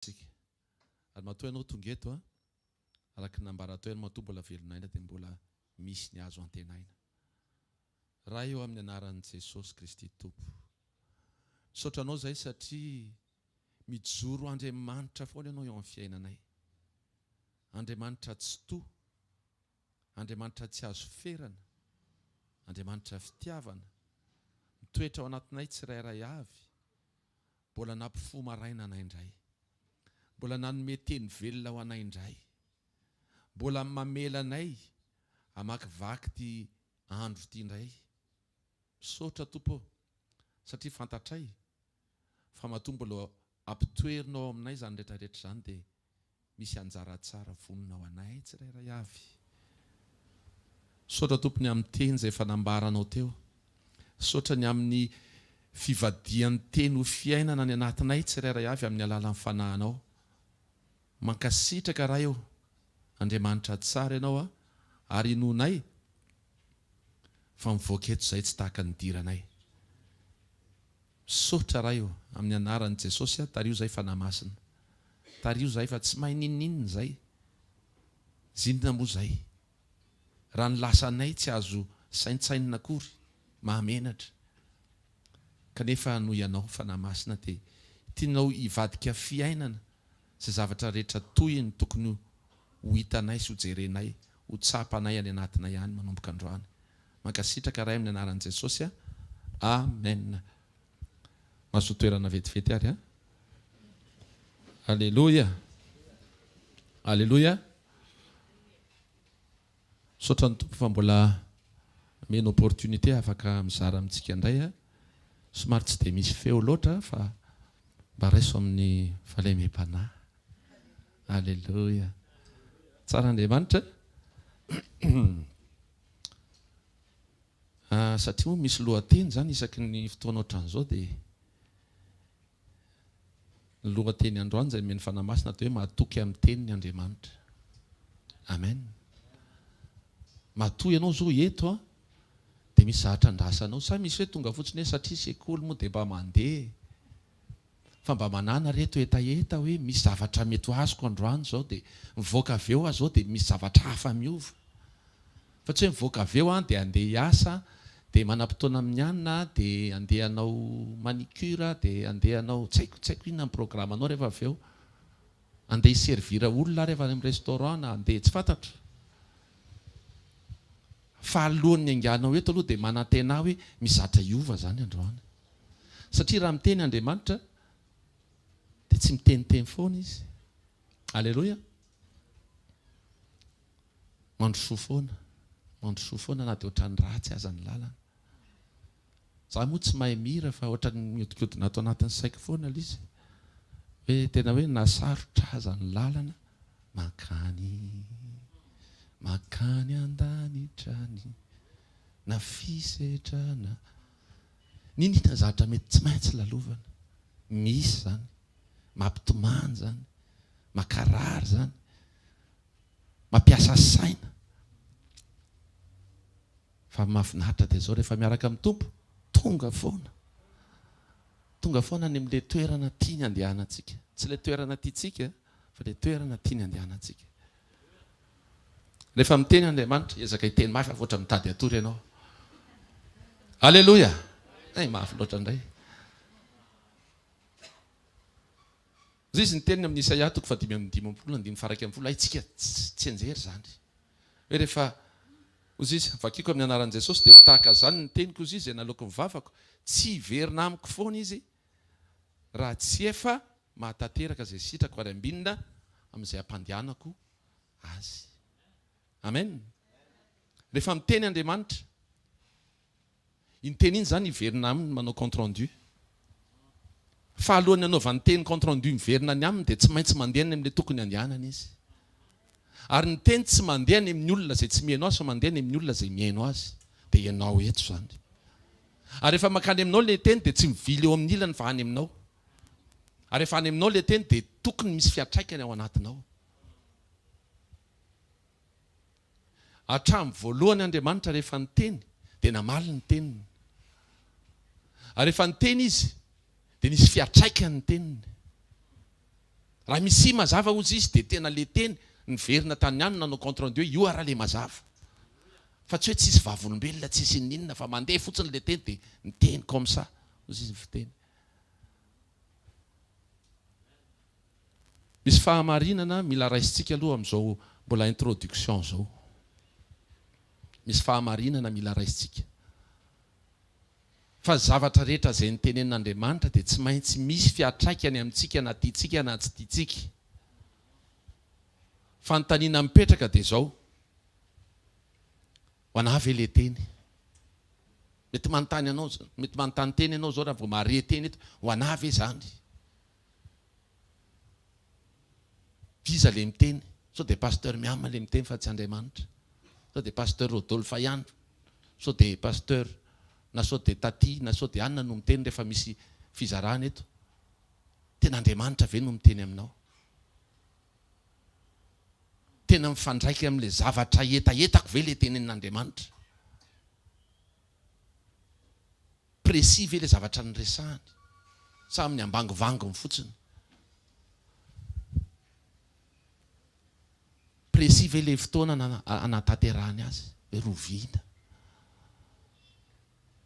Tsika. Ary matoa ianao tonga eto a, araka ny nambaran'i Toaena matoa mbola velon'aina dia mbola misy ny azo antenaina. Ray ô amin'ny anaran'i Jesosy Kristy Tompo. Misaotra Anao izahay satria mijoro ho Andriamanitra foana Ianao eo amin'ny fiainanay. Andriamanitra Tsitoha, Andriamanitra tsy azo ferana, Andriamanitra Fitiavana, mitoetra ao anatinay tsirairay avy, Mbola nampifoha maraina anay indray. Mbola nanome teny velona ho anay indray. Mbola mamela anay hamakivaky ity andro ity indray. Misaotra Tompo ô, satria fantatray fa matoa mbola ampitoerinao ao aminay izany rehetra rehetra izany dia Misy anjara tsara vonona ho anay tsirairay avy. Misaotra Tompo ny amin'ny teny izay efa nambaranao teo. Misaotra ny amin'ny fivadihan'ny teny ho fiainana any anatinay tsirairay avy amin'ny alalan'ny Fanahinao. Mankasitraka Ray ô! Andriamanitra tsara Ianao ary inoanay. fa mivoaka eto izay tsy tahaka ny nidiranay. Misaotra Ray ô, amin'ny anaran'i Jesosy a, tariho izay Fanahy Masina. Tariho izay fa tsy mahay n'inon'inona izay. Zinona moa izay. Raha ny lasanay tsy azo saintsainina akory, mahamenatra. Kanefa noho Ianao Fanahy Masina dia tianao hivadika fiainana Izay zavatra rehetra tohiny tokony ho hitanay sy ho jerenay, ho tsapanay any anatinay any manomboka androany. Mankasitraka Ray amin'ny anaran'i Jesosy a! Amen. Mahazoa toerana vetivety ary an! Aleloia! Aleloia! Misaotra ny Tompo fa mbola meno opportunité afaka mizara amintsika indray a! Somary tsy dia misy feo loatra fa mba raiso amin'ny fahalemem-panahy. Aleloia! Tsara Andriamanitra a! Satria moa misy lohateny izany isaky ny fotoana ohatran'izao dia. Ny lohateny androany izay nomen'ny Fanahy Masina dia hoe matoky amin'ny teniny Andriamanitra. Amen. Matoa ianao izao eto an, dia misy zavatra andrasanao. Sa misy hoe tonga fotsiny hoe satria sekoly moa dia mba mandeha e. Fa mba manana re to hetaheta hoe misy zavatra mety ho azoko androany izao dia mivoaka avy eo aho izao dia misy zavatra hafa miova. Fa tsy hoe mivoaka avy eo an dia andeha hiasa dia manam-potoana amin'ny anona dia andeha hanao manicure dia andeha hanao tsy haiko tsy haiko inona ny programanao rehefa avy eo. Andeha hi-servir olona rehefa any amin'ny restaurant na andeha tsy fantatro. Fa alohan'ny hainganao eto aloha dia manantena ahy hoe misy zatra hiova izany androany. Satria raha miteny Andriamanitra dia tsy miteniteny foana Izy. Aleloia. Mandrosoa foana, mandrosoa foana na dia ohatran'ny ratsy aza ny lalana. Za moa tsy mahay mihira fa ohatran'ny mihodinkodina ato anatin'ny saiko foana ilay izy hoe tena hoe na sarotra aza ny lalana mankany mankany an-danitra any na fisedrana niniana ny zavatra mety tsy maintsy lalovana misy izany mampitomany izany makarary izany Mampiasa saina. Fa ny mahafinaritra dia izao rehefa miaraka amin'ny Tompo, tonga foana. Tonga foana any amin'ilay toerana tiany andehanantsika. Tsy ilay toerana tiantsika, fa ilay toerana tiany andehanantsika. Rehefa miteny Andriamanitra, ezaka hiteny mafy fa ohatran'ny mitady hatory ianao. Aleloia! Hay mafy loatra indray. Hoy Izy niteny ny amin'i Isaia toko fahadimy amby dimampolo andininy faharaika ambin'ny folo, Haintsika tsianjery izany. Hoe rehefa, hoy Izy, vakiko amin'ny anaran'i Jesosy, dia ho tahaka izany ny teniko, hoy Izy, izay naloako ny vavako. Tsy hiverina amiko foana Izy raha tsy efa mahatanteraka izay sitrako ary ambinina amin'izay hampandehanako Azy. Amen. Rehefa miteny Andriamanitra. Iny teny iny izany hiverina aminy manao compte rendu. Fa alohan'ny hanaovany teny compte rendu miverina any aminy dia tsy maintsy mandeha any amin'ilay tokony handehanany izy. Ary ny teny tsy mandeha any amin'ny olona izay tsy mihaino azy fa mandeha any amin'ny olona izay mihaino azy dia ianao eto izany. Ary rehefa mankany aminao ilay teny dia tsy mivily eo amin'ny ilany fa any aminao. Ary rehefa any aminao ilay teny dia tokony misy fiantraikany ao anatinao. Hatramin'ny voalohany Andriamanitra rehefa niteny dia namaly ny teniny. Ary rehefa niteny izy dia nisy fiatraikany ny teniny. Raha misia mazava ozy izy dia tena le teny niverina tany ihany nanao compte rendu hoe io ara le mazava. Fa tsy hoe tsisy vavolombelona tsisy ininona fa mandeha fotsiny le teny dia niteny comme ça ozy izy ny fiteny. Misy fahamarinana mila raisintsika aloha amin'izao mbola introduction izao. Misy fahamarinana mila raisintsika. Fa zavatra rehetra izay notenenin'Andriamanitra dia tsy maintsy misy fiatraikany amintsika na tiantsika na tsy tiantsika. Fanontaniana mipetraka dia izao, ho anà ve ilay teny? Mety manontany anao, mety manontany teny ianao izao raha vao mahare teny eto, ho anà ve izany? D'iza le miteny? Sao dia Pasteur Miam le miteny fa tsy Andriamanitra? Sao dia Pasteur Rodolphe ihany? Sao dia Pasteur na sao dia Taty na sao dia anona no miteny rehefa misy fizarana eto? Tena Andriamanitra ve no miteny aminao? Tena mifandraika amin'ilay zavatra hetahetako ve ilay tenenin'Andriamanitra? Précis ve le zavatra niresahany sa amin'ny ambangivanginy fotsiny? Précis ve le fotoana nanatanterahany azy? Rovina.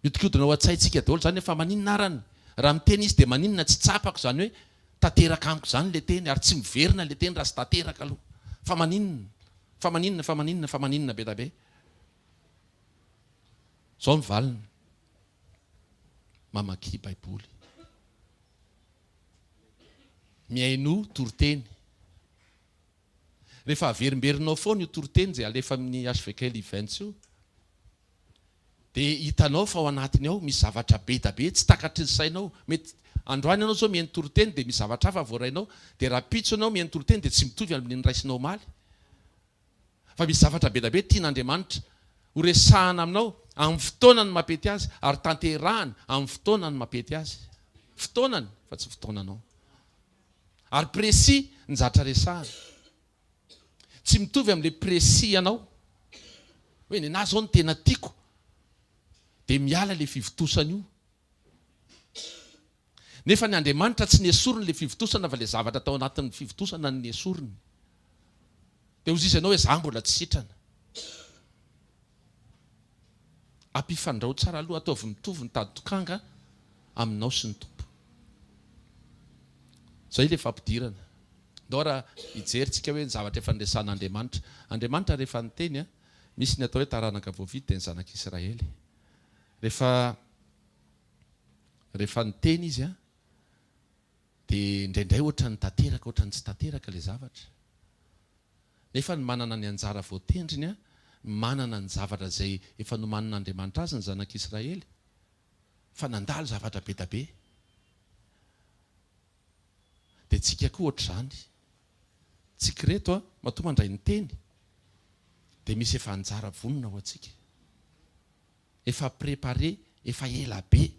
Miodikodina ao an-tsaintsika daholo izany hoe fa maninona arany raha miteny izy dia maninona tsy tsapako izany hoe tanteraka amiko izany le teny ary tsy miverina le teny raha tsy tanteraka aloha. Fa maninona? Fa maninona? Fa maninona? Fa maninona be da be? Izao ny valiny, mamaky Baiboly, mihainoa toriteny. Rehefa averimberinao foana io toriteny izay alefa amin'ny HVKL Events io, dia hitanao fa ao anatiny ao misy zavatra be dia be tsy takatry ny sainao. Mety androany ianao izao mihaino toriteny dia misy zavatra hafa voarainao, dia rahampitso ianao mihaino toriteny dia tsy mitovy amin'ny noraisinao omaly. fa misy zavatra be dia be tian'Andriamanitra horesahana aminao amin'ny fotoanany mampety azy ary tanterahany amin'ny fotoanany mampety azy. Fotoanany fa tsy fotoananao. Ary précis ny zatra resahany. Tsy mitovy amin'ilay précis ianao. Hoe nenaha izao no tena tiako dia miala ilay fivontosana io. Nefa ny Andriamanitra tsy nesoriny ilay fivontosana fa ilay zavatra tao anatin'ny fivontosana no nesoriny. Dia hozy izy ianao hoe za mbola tsy sitrana. Ampifandrao tsara aloha, ataovy mitovy ny tady tokanga aminao sy ny Tompo. Zay ilay fampidirana. Ndao ara hijery tsika hoe ny zavatra efa niresahan'Andriamanitra. Andriamanitra rehefa niteny a, misy ny atao hoe taranaka voavidy dia ny zanak'Israely. Rehefa. Rehefa niteny izy an, dia indraindray ohatran'ny tanteraka, ohatran'ny tsy tanteraka ilay zavatra. Nefa ny manana ny anjara voatendriny an, ny manana ny zavatra izay efa nomanin'Andriamanitra azy ny zanak'Israely, fa nandalo zavatra be dia be. Dia tsika koa ohatr'izany. Tsika ireto an, matoa mandray ny teny, dia misy efa anjara vonona ho antsika. Efa prepare efa ela be.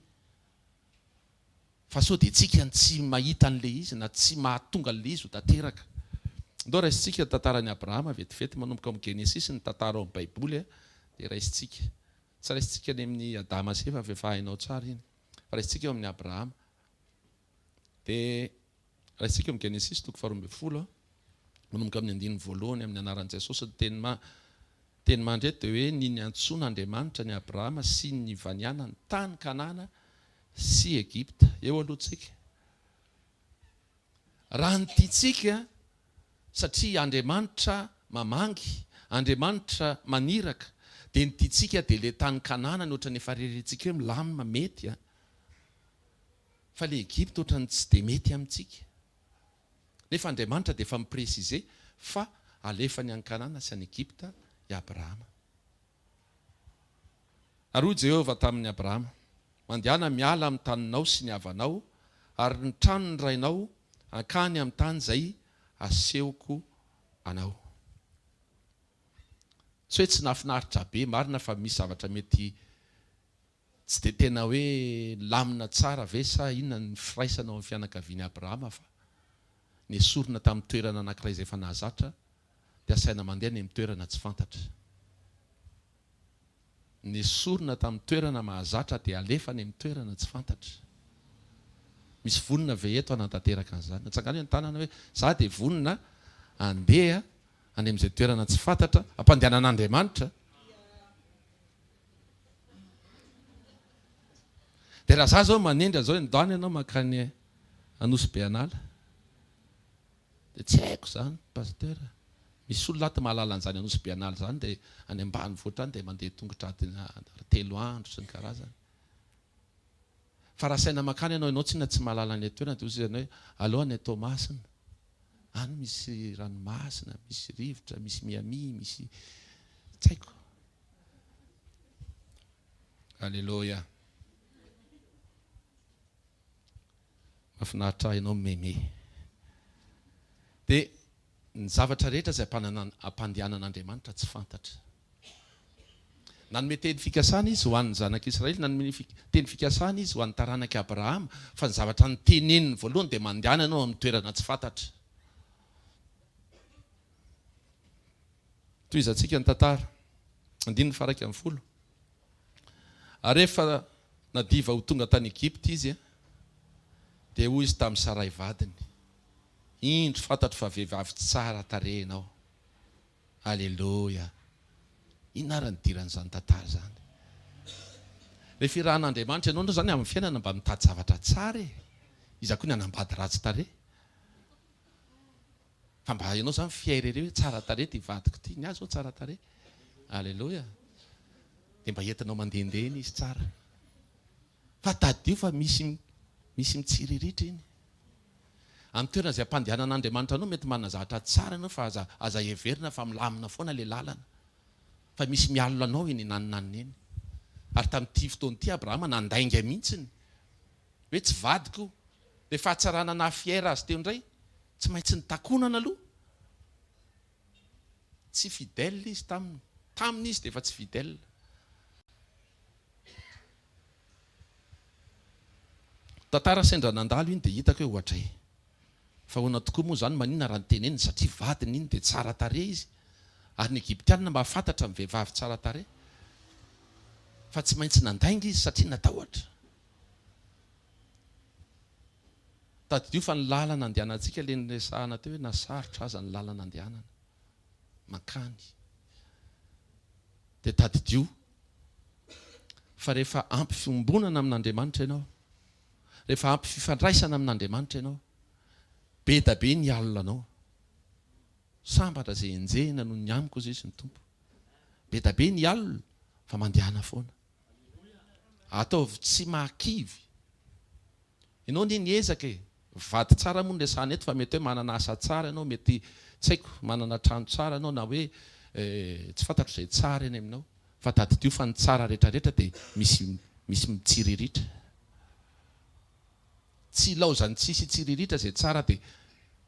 Fa sao dia tsika no tsy mahita an'ilay izy na tsy mahatonga an'ilay izy ho tanteraka. Ndao raisintsika ny tantaran'i Abrahama vetivety manomboka ao amin'ny Genesisy ny tantara ao amin'ny Baiboly a! dia raisintsika. Tsy raisintsika any amin'ny Adama sy Eva fa efa hainao tsara iny. Fa raisintsika eo amin'ny Abrahama. Dia raha isika amin'ny Genesisy toko faharoa ambin'ny folo, manomboka amin'ny andininy voalohany amin'ny anaran'i Jesosy, ny teny ma, teny mandry eto dia hoe ny niantsoana Andriamanitra an'i Abrahama sy ny nivanianany tany Kanana sy Egypta. Eo aloha tsika. Raha ny tiantsika, satria Andriamanitra mamangy, Andriamanitra maniraka, dia ny tiantsika dia ilay tany Kanana ny ohatran'ny efa rerirentsika hoe milamina, mety an! Fa le Egypta otrany tsy de mety amintsika. Nefa Andriamanitra dia efa mi preciser fa alefany any Kanana sy any Egypta i Abrahama. Ary hoy Jehovah tamin' i Abrahama, Mandehana miala amin'ny taninao sy ny havanao ary ny tranon'ny rainao hankany amin'ny tany izay asehoko anao. Tsy hoe tsy nahafinaritra be, marina fa misy zavatra mety Tsy dia tena hoe lamina tsara ve sa inona ny firaisana ao amin'ny fianakavian'i Abrahama fa nesorina tamin'ny toerana anankiray izay efa nahazatra dia asaina mandeha any amin'ny toerana tsy fantatra. Nesorina tamin'ny toerana mahazatra dia alefa any amin'ny toerana tsy fantatra. Misy vonona ve eto hanatanteraka an'izany? Atsangano eo ny tanana hoe za dia vonona handeha any amin'izay toerana tsy fantatra ampandehanan'Andriamanitra. Dia raha za zao manendry an'zao hoe ndany ianao mankany Anosy be an'ala dia tsy haiko zany Pasteur a! Misy olona ato mahalala an'zany Anosy be an'ala zany dia any ambanivohitra any dia mandeha tongotra adina telo andro sy ny karazany. Fa raha saina mankany ianao, ianao tsinona tsy mahalala ilay toerana dia hozy ianao hoe aleo any Toamasina any misy ranomasina, misy rivotra, misy Miami, misy tsy haiko. Aleloia. Mahafinaritra ahy ianao mimeme. Dia ny zavatra rehetra izay ampandehanan'Andriamanitra tsy fantatra. Nanome teny fikasana Izy ho an'ny Zanak'i Israely, nanome teny fikasana Izy ho an'ny taranak'i Abrahama, fa ny zavatra noteneniny voalohany dia mandehana ianao amin'ny toerana tsy fantatra. Tohizantsika ny tantara. Andininy faharaika ambin'ny folo. Ary rehefa nadiva ho tonga tany Egypta izy, dia hoy izy tamin'i Saray vadiny, Indro, fantatro fa vehivavy tsara tarehy ianao. Aleloia! Inona ary ny idiran'izany tantara izany? Rehefa irahan'Andriamanitra ianao, indrindra izany amin'ny fiainana, mba mitady zavatra tsara e! Iza koa ny hanambady ratsy tarehy? Fa mba ianao izany fier ery hoe tsara tarehy ity vadiko ity, ny ahy izao tsara tarehy. Aleloia. Dia mba entinao mandehandeha eny izy tsara. Fa tadidio fa misy misy mitsiriritra eny. Amin'ny toerana izay ampandehanan'Andriamanitra anao mety manana zavatra tsara ianao fa aza aza heverina fa milamina foana ilay lalana. Fa misy mialona anao eny naninanina eny. Ary tamin'ity fotoana ity Abrahama nandainga mihitsy ny hoe tsy vadiko io, dia fahatsarana naha fière azy teo indray, tsy maintsy nitakonana aloha, tsy fidèle izy taminy, taminy izy dia efa tsy fidèle. Tantara sendra nandalo iny dia hitako hoe ohatray. Fa ahoana tokoa moa izany, maninona raha noteneniny satria vadiny iny dia tsara tarehy izy, ary ny Egyptiana mahafantatra ny vehivavy tsara tarehy, fa tsy maintsy nandainga izy satria natahotra. Tadidio fa ny lalana andehanantsika ilay niresahana teo hoe na sarotra aza ny lalana andehanana mankany dia tadidio fa rehefa ampy fiombonana amin'Andriamanitra ianao, rehefa ampy fifandraisana amin'Andriamanitra ianao, be da be ny alina anao. Sambatra izay enjehina noho ny amiko hoy Izy ny Tompo. Be da be ny alina fa mandehana foana. Ataovy tsy mahakivy. Ianao anie niezaka e! Vady tsara moa no resahana eto fa mety hoe manana asa tsara ianao, mety tsy haiko, manana trano tsara ianao na hoe tsy fantatro izay tsara eny aminao. Fa tadidio fa ny tsara rehetra rehetra dia misy misy mitsiriritra. Tsy ilaozan'ny tsisy hitsiriritra izay tsara dia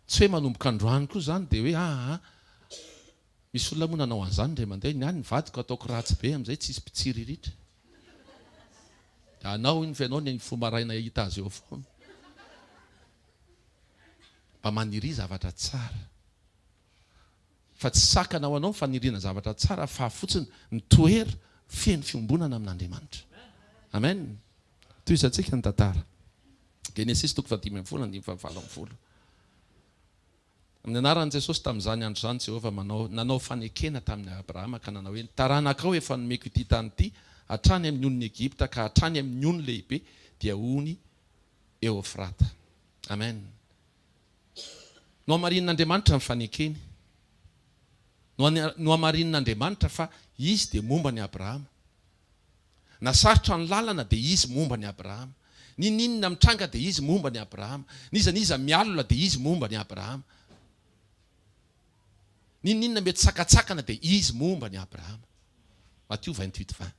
tsy hoe manomboka androany koa izany dia hoe aa Misy olona moa nanao an'izany indray mandeha, ny ahy ny vadiko ataoko ratsy be amin'izay tsisy mpitsiriritra. Dia anao iny fa ianao ny mifoha maraina hahita azy eo foana. Mba maniria zavatra tsara. Fa tsy sakana ho anao ny faniriana zavatra tsara fa fotsiny ny toera feno fiombonana amin'Andriamanitra. Amen. Tohizantsika ny tantara. Genesisy toko fahadimy ambin'ny folo andininy fahavalo ambin'ny folo. Amin'ny anaran'i Jesosy, tamin'izany andro izany, Jehovah manao, nanao fanekena tamin'i Abrahama ka nanao hoe, Ny taranakao efa nomeko ity tany ity, hatrany amin'ny onin'i Egypta ka hatrany amin'ny ony lehibe, dia ony Eofrata. Amen. Nohamarinin'Andriamanitra ny fanekeny. Nohamarinin'Andriamanitra fa Izy dia momba an'i Abrahama. Na sarotra ny lalana dia izy momba an'i Abrahama, n'ininona mitranga dia izy momba an'i Abrahama, n'iza n'iza mialona dia izy momba an'i Abrahama, n'ininona mety sakantsakana dia izy momba an'i Abrahama. Matio vingt huit vingt.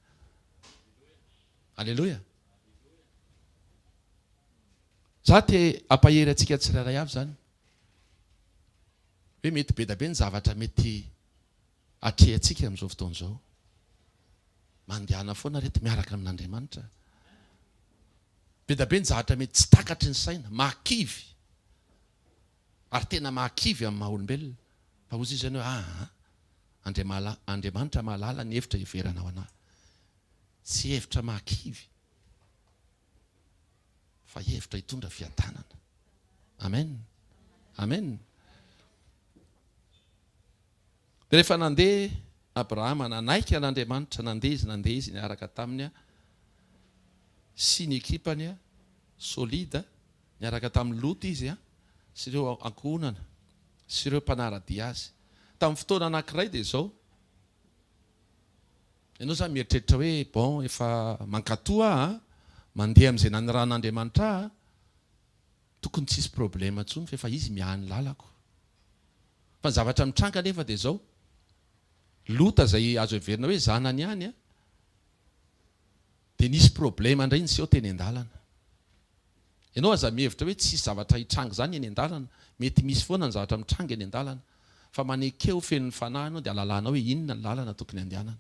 Aleloia. Za te ampahery antsika tsirairay avy zany hoe mety bedabe ny zavatra mety Atrehantsika amin'izao fotoana izao. Mandehana foana reto miaraka amin'Andriamanitra. Bedabe ny zavatra mety tsy takatry ny saina, mahakivy, ary tena mahakivy amin'ny maha olombelona. Fa hozy izy any hoe, Aa! Andriamala, Andriamanitra mahalala ny hevitra hiheverana ho anà. Tsy hevitra mahakivy, fa hevitra hitondra fiadanana. Amen! Amen! Dia rehefa nandeha Abrahama, nanaiky an' Andriamanitra, nandeha izy, nandeha izy, niaraka taminy sy ny ekipany solide, niaraka tamin'i Lota izy sy ireo ankohonana sy ireo mpanara-dia azy. Tamin'ny fotoana anankiray dia izao, ianao izany mieritreritra hoe, bon, efa mankatoa aho an, mandeha amin'izay naniran'Andriamanitra ahy an, Tokony tsy hisy problème intsony fa efa izy miahy ny lalako. Fa ny zavatra mitranga anefa dia izao, Lota izay azo heverina hoe zanany ihany dia nisy problème indray niseho teny an-dalana. Ianao aza mihevitra hoe tsy hisy zavatra hitranga izany eny an-dalana, mety misy foana ny zavatra mitranga eny an-dalana, fa maneke ho feno ny Fanahy ianao dia halalanao hoe inona ny lalana tokony handehanana.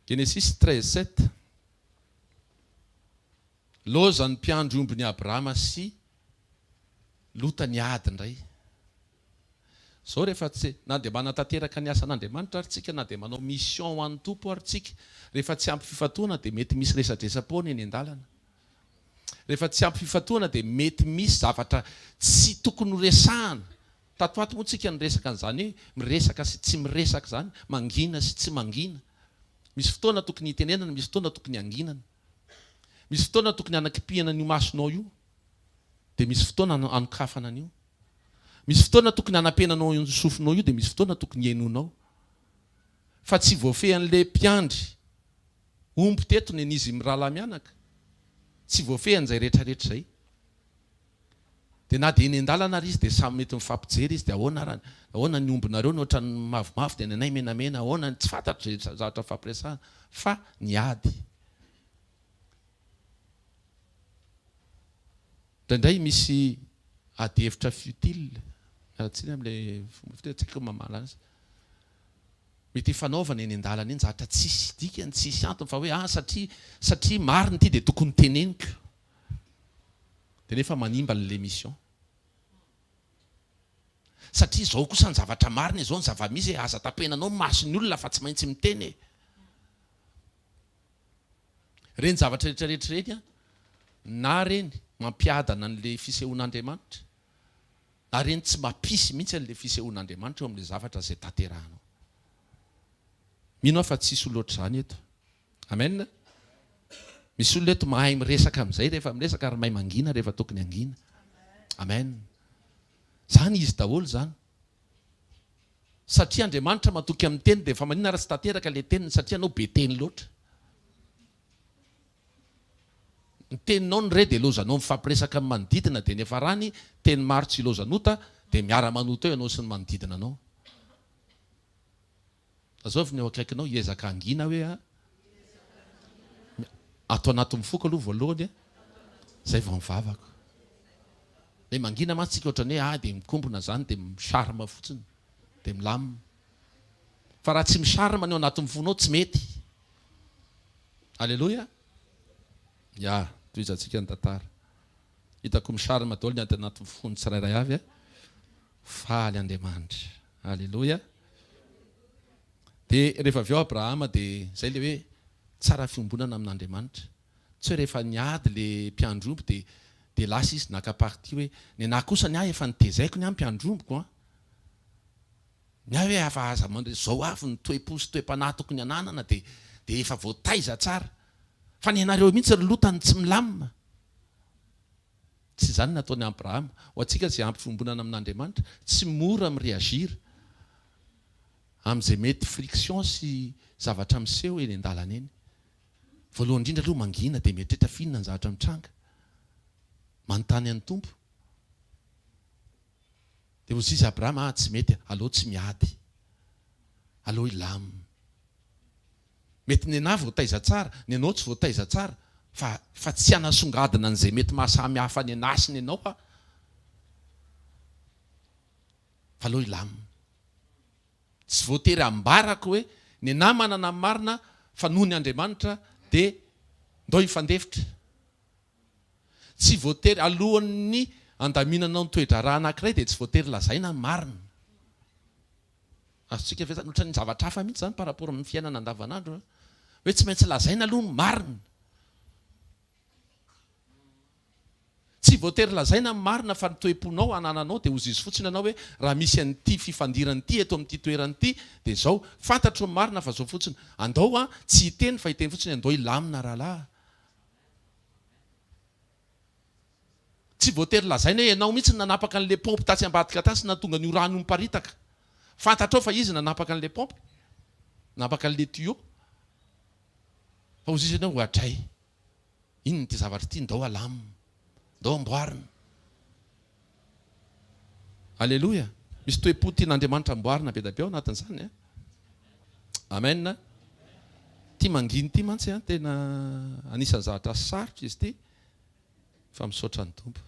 Genesisy treize sept. Loza ny mpiandry ombin'i Abrahama sy Lota niady indray. Izao rehefa tsy, na dia manatanteraka ny asan'Andriamanitra ary tsika, na dia manao mission ho an'ny Tompo ary tsika, rehefa tsy ampy fifantohana dia mety misy resadresa-poana eny an-dalana. Rehefa tsy ampy fifantohana dia mety misy zavatra tsy tokony ho resahana. Tato ato moa tsika niresaka an'izany hoe miresaka sy tsy miresaka izany, mangina sy tsy mangina. Misy fotoana tokony hitenenana, misy fotoana tokony hanginana. Misy fotoana tokony hanakipihana an'io masonao io, dia misy fotoana hanokafana an'io. Misy fotoana tokony hanapenanao io sofinao io, dia misy fotoana tokony henoinao. Fa tsy voafehin'ilay mpiandry omby teto ny an'izy mirahalahy mianaka. Tsy voafehiny izay rehetra rehetra izay. Dia na dia eny an-dalana ary izy dia samy mety mifampijery izy dia ahoana ary any? Ahoana ny ombinareo ny ohatran'ny mavomavo dia ny anay menamena ahoana ny tsy fantatro izay zavatra nifampiresahana fa ny ady indraindray misy ady hevitra futile miala tsiny amin'ilay fomba fiteny tsy haiko ny mamaha anazy mety hifanaovana eny an-dalana eny zavatra tsisy dikany tsisy antony fa hoe ah satria satria marina ity dia tokony teneniko De nefa manimba ny l'emission. Satria izao kosa ny zavatra marina e, izao ny zava-misy e, aza tapenanao ny mason'ny olona fa tsy maintsy miteny e. Ireny zavatra rehetrarehetra ireny an, na ireny mampiadana an'ilay fisehoan'Andriamanitra, na ireny tsy mampisy mihitsy an'ilay fisehoan'Andriamanitra eo amin'ilay zavatra izay tanterahanao. Mino aho fa tsy hisy ho loatra izany eto. Amen. Misy olona eto mahay miresaka amin'izay rehefa miresaka ary mahay mangina rehefa tokony hangina. Amen. Izany izy daholo izany. Satria Andriamanitra matoky amin'ny teny dia efa maninona ary tsy tanteraka ilay teniny satria ianao be teny loatra. Ny teninao ny re dia ilaozanao mifampiresaka amin'ny manodidina dia niafarany teny maro tsy ilaozan'ota dia miara-manota eo ianao sy ny manodidina anao. Lazovy ny eo akaikinao, hiezaka hangina aho hoe a. Ato anatin'ny foko aloha voalohany a, zay vao ny vavako. Le mangina mantsy tsika ohatrany hoe a, de mikombona zany de mi charme fotsiny, de milamina. Fa raha tsy mi charme ny ao anatin'ny fonao tsy mety. Aleloia! Ya, tohizantsika ny tantara. Hitako mi charme daholo ny ato anatin'ny fon'ny tsirairay avy a. Faly Andriamanitra. Aleloia. Dia rehefa avy eo Abrahama dia izay ilay hoe tsara fiombonana amin'Andriamanitra. Tsy hoe rehefa niady ilay mpiandry omby dia dia lasa izy naka parti hoe ny anah kosa ny ahy efa notezaiko ny ahy mpiandry ombiko an. Ny ahy hoe afa aza mandre izao avy ny toe-po sy toe-panahy tokony hananana dia dia efa voataiza tsara. Fa ny anareo mihitsy ry lota no tsy milamina. Tsy izany nataon'i Abrahama. Ho antsika izay ampy fiombonana amin'Andriamanitra, tsy mora mi-reagir amin'izay mety friction sy zavatra miseho eny an-dalana eny. Voalohany indrindra aloha mangina dia mieritreritra f'inona ny zavatra mitranga. Manontany an'i Tompo. Dia hozy izy Abrahama ah tsy mety, aleo tsy miady. Aleo hilam. Mety ny anà voataiza tsara, ny anao tsy voataiza tsara fa fa tsy hanasongadina an'izay mety mahasamy hafa ny anà sy ny anao aho fa aleo hilamina. Tsy voatery ambarako hoe ny anà manana ny marina fa noho ny Andriamanitra dia ndao hifandefitra. Tsy voatery alohan'ny handaminanao ny toe-draharaha anankiray dia tsy voatery lazaina ny marina. Azontsika averina ohatran'ny zavatra hafa mihitsy izany par rapport amin'ny fiainana andavanandro hoe tsy maintsy lazaina aloha ny marina. Tsy voatery lazaina ny marina fa ny toe-ponao anananao dia ozizy fotsiny anao hoe raha misy an'ity fifandirana ity eto amin'ity toerana ity dia izao. Fantatro ny marina fa izao fotsiny. Andao an, tsy hiteny fa hiteny fotsiny hoe andao hilamina rahalahy. Tsy voatery lazaina hoe ianao mihitsy no nanapaka an'ilay paompy tatsy ambadika tatsy nahatonga an'io rano io miparitaka. Fantatrao fa izy nanapaka an'ilay paompy, nanapaka an'ilay tuyau. Fa hozizy ianao hoe adray, inona ity zavatra ity, ndao alamina, ndao amboarina. Aleloia! Misy toe-po tian'Andriamanitra amboarina be dia be ao anatin'izany an! Amen an! Ity manginy ity mantsy an, tena anisan'ny zavatra sarotra izy ity, fa misaotra ny Tompo.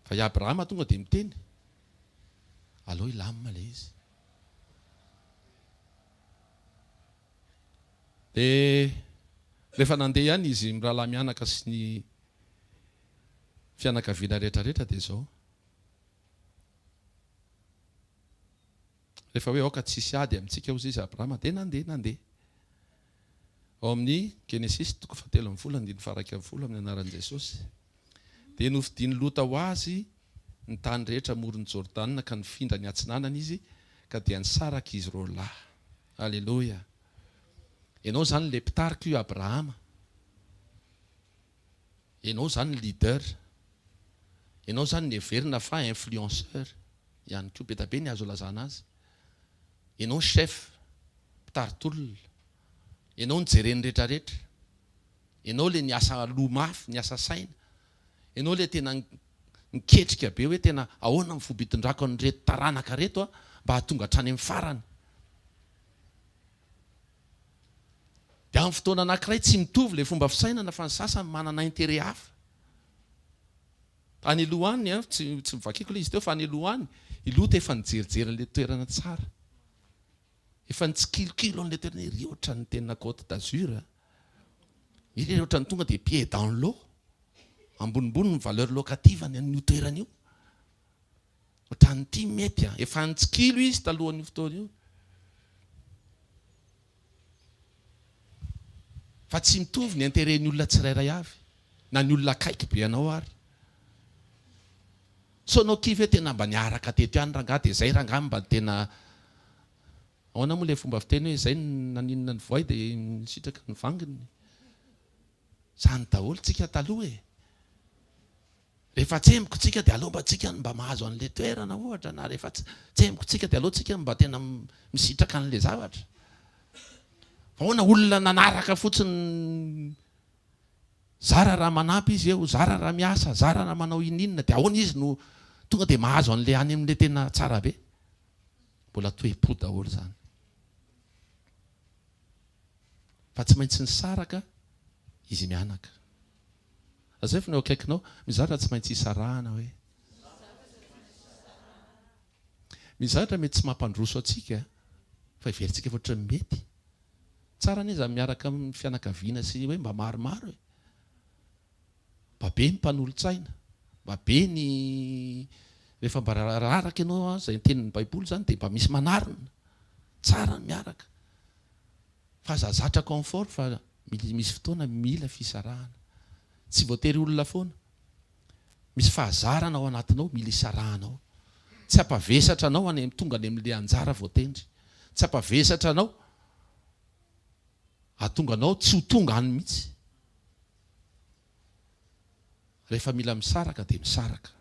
Fa i Abrahama tonga dia miteny, aleo hilamina ilay izy. Dia rehefa nandeha ihany izy mirahalahy mianaka sy ny fianakaviana rehetra rehetra dia izao, rehefa hoe aoka tsy hisy ady amintsika hozy izy Abrahama dia nandeha nandeha, ao amin'ny Genesisy toko fahatelo ambin'ny folo andininy faharaika ambin'ny folo amin'ny anaran'i Jesosy, dia novidian'i Lota ho azy ny tany rehetra amoron'i Jordana ka nifindra ny atsinanana izy ka dia nisaraka izy roalahy, aleloia, ianao izany ilay mpitarika io Abrahama. Enao zany leader. Enao zany neverina fa influenceur ihany koa. Be da be ny azo ilazana azy. Enao chef, mpitari-tolona. Enao no jeren'ny rehetra rehetra. Enao le niasa loha mafy, niasa saina. Enao le tena niketrika be hoe tena ahoana ny fomba hitondrako an'ireto taranaka reto mba hahatonga hatrany amin'ny farany. Dia amin'ny fotoana anankiray tsy mitovy ilay fomba fisainana fa ny sasany manana intérêt hafa. Any aloha any, tsy tsy vakiko ilay izy teo fa any aloha any, i Lota efa nijerijery an'ilay toerana tsara. Efa nitsikilikilo an'ilay toerana, iry ohatran'ny tena Côte d'Azur a! Iry ohatran'ny tonga dia pied dans l'eau. Ambonimbony ny valeur locative-ny an'io toerana io. Ohatran'ny tia mety an! Efa nitsikilo izy talohan'io fotoana io. Fa tsy mitovy ny intérêt ny olona tsirairay avy. Na ny olona akaiky be anao ary. Sao anao kivy hoe tena mba niaraka teto ihany rangahy dia izay rangahy mba tena Ahoana moa ilay fomba fiteny hoe izay naninona ny voay dia nisitraka ny vanginy. Izany daholo tsika taloha e! Rehefa tsemboky tsika dia aleo mba tsika no mba mahazo an'ilay toerana ohatra na rehefa tsemboky tsika dia aleo tsika mba tena misitraka an'ilay zavatra fa hoana olona nanaraka fotsiny zara raha manampy izy eo zara raha miasa zara raha manao ininona dia ahoana izy no tonga dia mahazo an'ilay any amin'ilay tena tsara be mbola toepo daholo zany fa tsy maintsy nisaraka izy mianaka Azaevo ny eo akaikinao, mizatra tsy maintsy isarahana hoe. Mizatra mety tsy mampandroso antsika fa heverintsika fa ohatran'ny mety. Tsara anie izany miaraka amin'ny fianakaviana sy hoe mba maromaro e. Mba be ny mpanolotsaina, mba be ny rehefa mba araka ianao izay tenin'ny baiboly izany dia mba misy manarina. Tsara ny miaraka. Fa za zatra confort fa misy fotoana mila fisarahana. Tsy voatery olona foana. Misy fahazarana ao anatinao mila isarahana ao. Tsy hampavesatra anao any am tonga any amle anjara voatendry. Tsy hampavesatra anao hahatonga anao tsy ho tonga any mihitsy. Rehefa mila misaraka dia misaraka.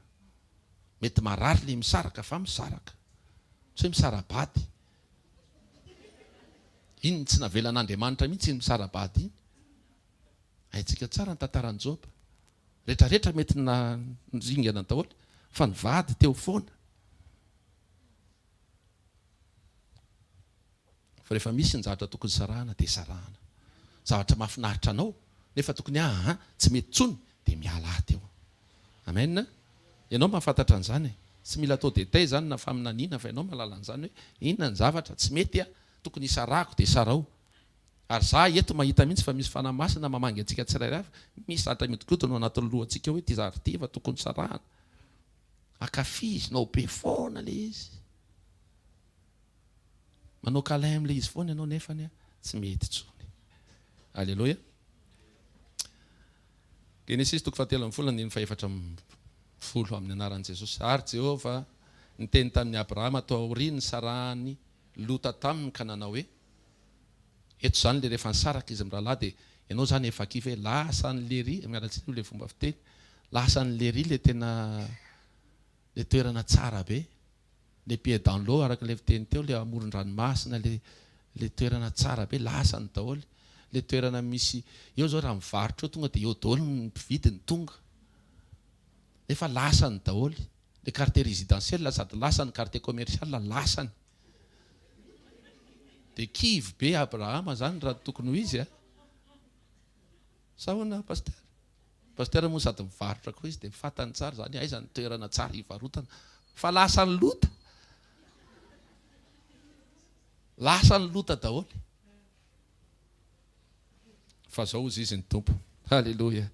Mety marary ilay misaraka fa misaraka. Tsy hoe misara-bady. Iny tsy navelan'Andriamanitra mihitsy iny misara-bady iny. Haintsika tsara ny tantaran'i Joba. Rehetrarehetra mety niringana daholo fa ny vady teo foana. Fa rehefa misy ny zavatra tokony sarahana dia sarahana. Zavatra mahafinaritra anao nefa tokony aa tsy mety intsony dia miala aa teo. Amen. Ianao mahafantatra an'izany e. Tsy mila atao détail izany na faminaniana fa ianao mahalala an'izany hoe inona ny zavatra tsy mety aa tokony hisarahako dia sarao. Ary za eto mahita mihitsy fa misy Fanahy Masina mamangy antsika tsirairay avy. Misy zavatra mihodinkodina ao anatin'ny lohantsika hoe ity zavatra ity efa tokony sarahana. Ankafizinao be foana ilay izy. Manao câlin amin'ilay izy foana ianao nefa tsy mety intsony. Aleloia. Genesisy toko fahatelo ambin'ny folo andininy fahefatra ambin'ny folo amin'ny anaran'i Jesosy. Ary Jehovah niteny tamin'i Abrahama tao aoriany nisarahan'i Lota taminy ka nanao hoe, Eto izany ilay rehefa nisaraka izy mirahalahy dia ianao izany efa kivy hoe lasa any Lery, miala tsiny aloha ilay fomba fiteny, lasa any Lery ilay tena ilay toerana tsara be. les pieds dans l'eau araka ilay fiteny teo ilay amoron-dranomasina ilay ilay toerana tsara be lasany daholo ilay toerana misy eo zao raha mivarotra eo tonga dia eo daholo ny mpividy ny tonga efa lasany daholo le quartier résidentiel sady lasany quartier commercial lasany dia kivy be Abrahama zany raha tokony ho izy a sa ahoana pasitera Pasteur moa sady mivarotra koa izy dia fantany tsara izany aiza ny toerana tsara hivarotana fa lasa ny lota lasa ny lota daholo fa zao ozy izy ny tompo haleloia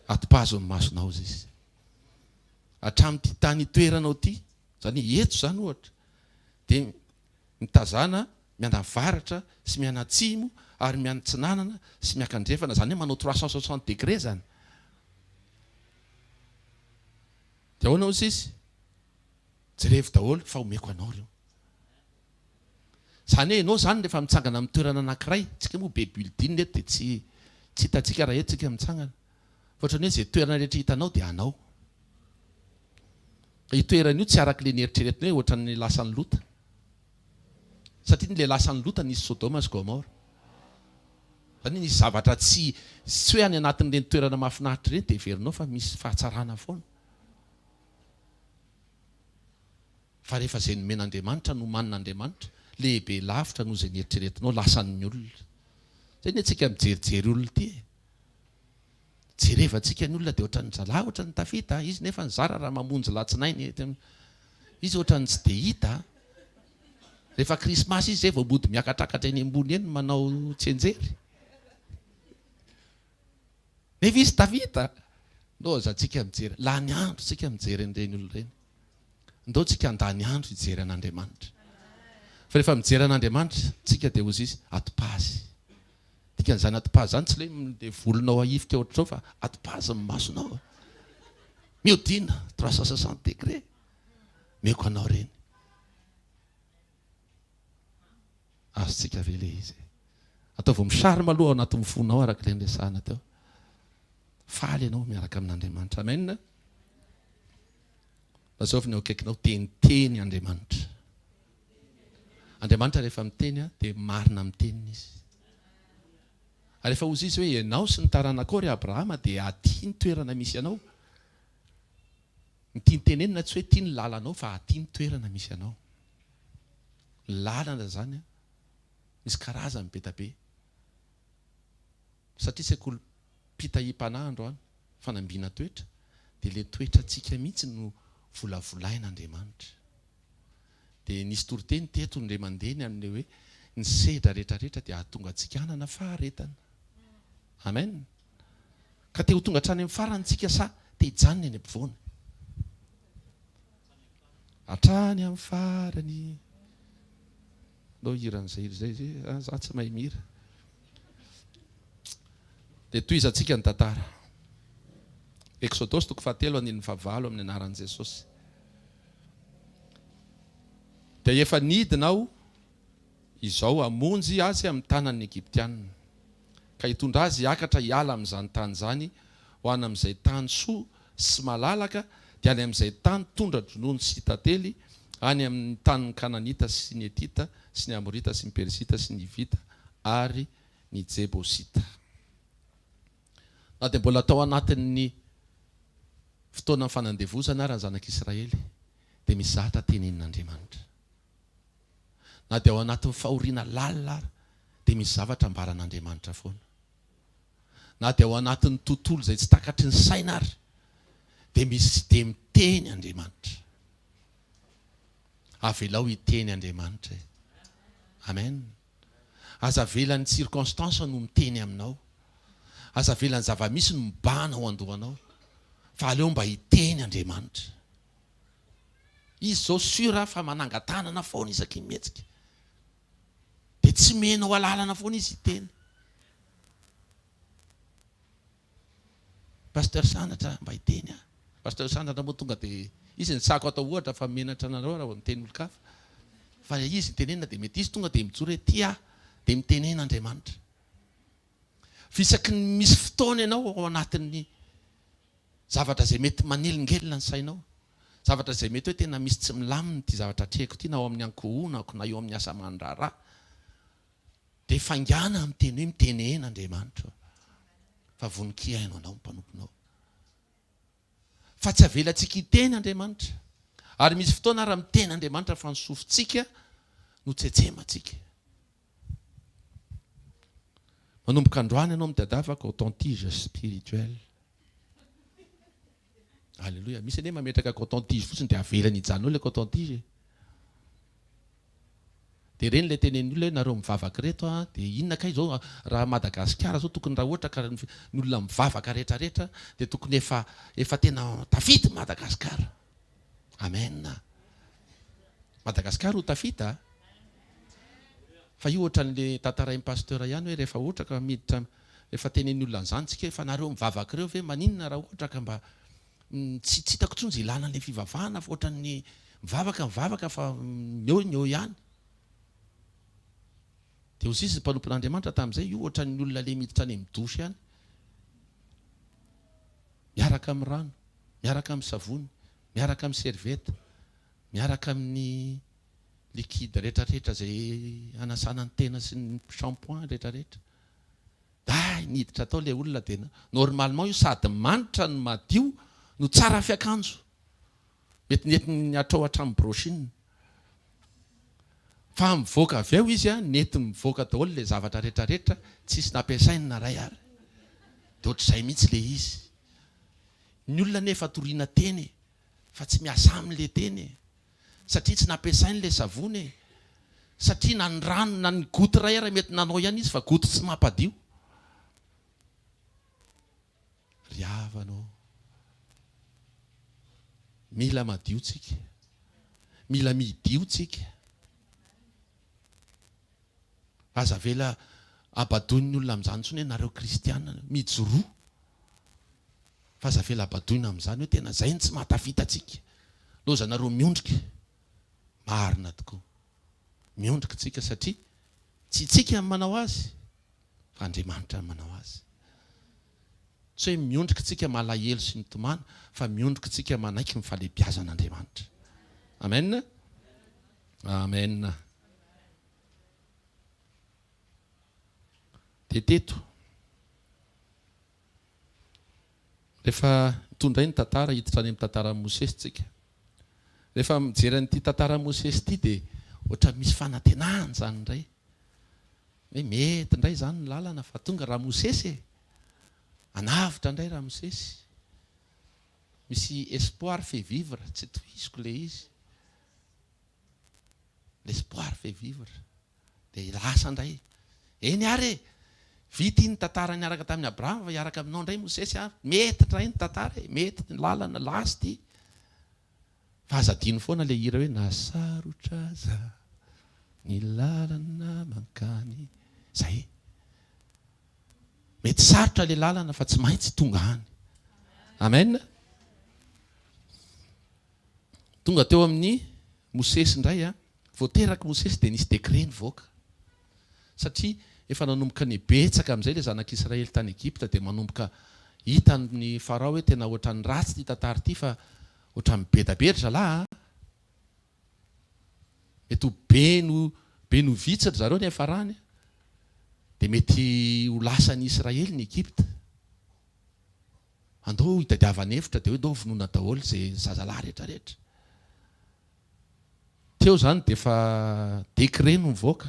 atipazo ny masonao ozy izy hatramin'ity tany toeranao ty zany eto zany ohatra dia mitazana mianavaratra sy mianatsimo ary mianatsinanana sy miakandrefana zany hoe manao trois cent soixante degre zany de ahoana hoy sisy jerevo daholo fa omeko anao reo zany hoe enao zany refa mitsangana am toerana anakiray tsika moa be building eto de tsy tsy hitantsika raha eto tsika mitsangana Ohatran'ny hoe izay toerana rehetra hitanao dia anao. Fa io toerana io tsy araka ilay nieritreretinao hoe ohatran'ny lasan'i Lota. Satria ny ilay lasan'i Lota nisy Sodoma sy Gomora. Izany hoe nisy zavatra tsy, tsy hoe any anatin'ireny toerana mahafinaritra ireny dia heverinao fa misy fahatsarana foana. Fa rehefa izay nomen'Andriamanitra, nomanin'Andriamanitra, lehibe lavitra noho izay nieritreretinao, lasan'ny olona. Izay ny antsika mijerijeriolona ity e! Jerevantsika ny olona dia ohatran'ny zalahy ohatran'ny tafita, izy nefa nizara raha mamonjy latsinainy, izy ohatran'ny tsy dia hita, rehefa krismasy izy izay vao mody miakatrakatra eny ambony eny manao tsianjery, nefa izy tafita, ndao aza tsika mijery, lany andro tsika mijery an'ireny olona ireny, ndao tsika handany andro hijery an'Andriamanitra, fa rehefa mijery an'Andriamanitra tsika dia hozy izy, ato-pazy. Dikan'izany atipaza zany tsy ilay ilay volonao ahifika ohatr'izao fa atipaza ny masonao a. Mihodina trois cent soixante degre. Omeko anao reny. Azontsika ve le izy e? Ataovy misary maloha ao anatin'ny fonao araka ilay niresahana teo. Faly ianao miaraka amin'Andriamanitra. Amen. Lazao avy ny eo akaikinao, teniteny Andriamanitra. Andriamanitra rehefa miteny dia marina amin'ny teniny Izy. Ary rehefa hozy Izy hoe, Ianao sy ny taranakao, ry Abrahama, dia aty ny toerana misy anao. Ny tiany tenenina tsy hoe aty ny lalanao fa aty ny toerana misy anao. Ny lalana izany misy karazany be dia be. Satria sekolim-pitahim-panahy androany, fanambina toetra, dia ilay toetrantsika mihitsy no volavolain'Andriamanitra. Dia nisy toriteny teto indray mandeha ny an'ilay hoe ny sedra rehetra rehetra dia hahatonga antsika hanana faharetana. Amen. Ka te ho tonga hatrany amin'ny farany tsika sa te hijanona eny ampovoany? Hatrany amin'ny farany. Ndao hira an'izay hira izay ve? Ah za tsy mahay mihira. Dia tohizantsika ny tantara. Eksodosy toko fahatelo andininy fahavalo amin'ny anaran'i Jesosy. Dia efa nidina aho izao hamonjy azy amin'ny tanan'ny Egyptianina, ka hitondra azy hiakatra hiala amin'izany tany izany ho any amin'izay tany soa sy malalaka, dia any amin'izay tany tondra-dronono sy tantely, any amin'ny tanin'ny Kananita sy ny Hetita sy ny Amorita sy ny Perizita sy ny Hivita ary ny Jebosita. Na dia mbola tao anatin'ny fotoanan'ny fanandevozana ary ny zanak'Israely, dia mizatra tenenin'Andriamanitra. Na dia ao anatin'ny fahoriana lalina ary, dia misy zavatra ambaran'Andriamanitra foana. na dia ao anatin'ny tontolo izay tsy takatry ny saina ary dia misy dia miteny Andriamanitra. Avelao hiteny Andriamanitra e. Amen. Aza avela ny circonstance no miteny aminao. Aza avela ny zava-misy no mibahana ao an-dohanao. Fa aleo mba hiteny Andriamanitra. Izy izao sur fa mananga-tanana foana isaky ny mihetsika. dia tsy mihena ho alalana foana izy hiteny. Pasteur Sandratra mba hiteny aho. Pasteur Sandratra moa tonga dia izy ny sahako atao ohatra fa menatra anareo raha vao miteny olon-kafa. Fa ilay izy itenenina dia mety izy tonga dia mijoro ety aho dia mitenena Andriamanitra. Fa isaky ny misy fotoana ianao ao anatin'ny zavatra izay mety manelingelina ny sainao zavatra izay mety hoe tena misy tsy milamina ity zavatra atrehiko ity na ao amin'ny ankohonako na eo amin'ny asa aman-draharaha dia faingàna amin'ny teny hoe mitenena Andriamanitra ô fa vonon-kiaino anao ny mpanomponao fa tsy avelantsika hiteny Andriamanitra ary misy fotoana ary miteny Andriamanitra fa ny sofintsika no tsetsemantsika manomboka androany ianao mitadiavaka authentige spirituel Aleloia. Misy anie mametraka coton tige fotsiny dia avelany hijanona eo ilay coton tige e. Dia ireny ilay tenenin'ny olona hoe nareo mivavaka ireto an, dia inona kay izao raha Madagasikara izao tokony raha ohatra ka ny olona mivavaka rehetra rehetra dia tokony efa efa tena tafita i Madagasikara. Amen. Madagasikara ho tafita a. Fa io ohatran'ilay tantarain'i Pasteur ihany hoe rehefa ohatra ka miditra Efa tenenin'ny olona an'izany tsika efa nareo mivavaka ireo ve maninona raha ohatra ka mba tsy tsy hitako tsony ze lalan'le fivavahana fa ohatran'ny mivavaka mivavaka fa mieo ny eo ihany de ho sisa mpanompon'Andriamanitra tamin'izay io ohatran'ny olona le miditra any amin'ny douche any miaraka amin'ny rano miaraka amin'ny savony miaraka amin'ny serviette miaraka amin'ny liquide retraretra zay anasana ny tena sy ny shampoing retraretra Day niditra tao ilay olona dia normalement io sady manitra no madio no tsara fiakanjo. Mety nentiny hatrao hatramin'ny brochine. Fa mivoaka avy eo izy an, nety mivoaka daholo ilay zavatra rehetra rehetra, tsisy nampiasainy na iray ary. Dia ohatr'izay mihitsy ilay izy. Ny olona anefa toriana teny e! Fa tsy miasa aminy ilay teny e! Satria tsy nampiasainy ilay savony e! Satria na ny rano na ny goty iray ary mety nanao ihany izy fa goty tsy mampadio. Ry havana ô! Mila madio tsika. Mila midio tsika. Aza avela habadoin'ny olona amin'izany intsony hoe nareo kristiana mijoroa fa aza avela habadoina amin'izany hoe tena izay no tsy mahatafita antsika. Lozanareo miondrika. Marina tokoa. Miondrika isika satria tsy itsika no manao azy fa Andriamanitra no manao azy. Tsy hoe miondrika isika malahelo sy mitomany fa miondrika isika manaiky ny fahalebiazan'Andriamanitra. Amen! Amen! Dia teto, rehefa toa indray ny tantara, hiditra any amin'ny tantaran'i Mosesy isika. Rehefa mijery an'ity tantaran'i Mosesy ity dia ohatran'ny misy fanantenana izany indray. Hoe mety indray izany ny lalana fa tonga Ramosesy e! Hanavotra indray Ramosesy. Misy espoir fait vivre, tsy tohiziko ilay izy. l'espoir fait vivre dia lasa indray eny ary e! vita iny tantara niaraka tamin'i Abraham fa hiaraka aminao indray Mosesy a! mety indray ny tantara e! mety ny lalana lasa ity fa aza adino foana ilay hira hoe nasarotra aza ny lalana mankany izay mety sarotra ilay lalana fa tsy maintsy tonga any amen Tonga teo amin'i Mosesy indray an! Vao terak'i Mosesy dia nisy décret nivoaka. Satria efa nanomboka nibetsaka amin'izay ilay zanak'Israely tany Egypta dia manomboka hitan'i Farao hoe tena ohatran'ny ratsy ity tantara ity fa ohatran'ny beda be ry zalahy an! Mety ho be no be no vitsy ry zareo nefa farany dia mety ho lasan'i Israely ny Egypta. Andao hitadiavana efitra dia hoe ndao vonoina daholo izay zazalahy rehetra rehetra. Teo izany dia efa décret no nivoaka.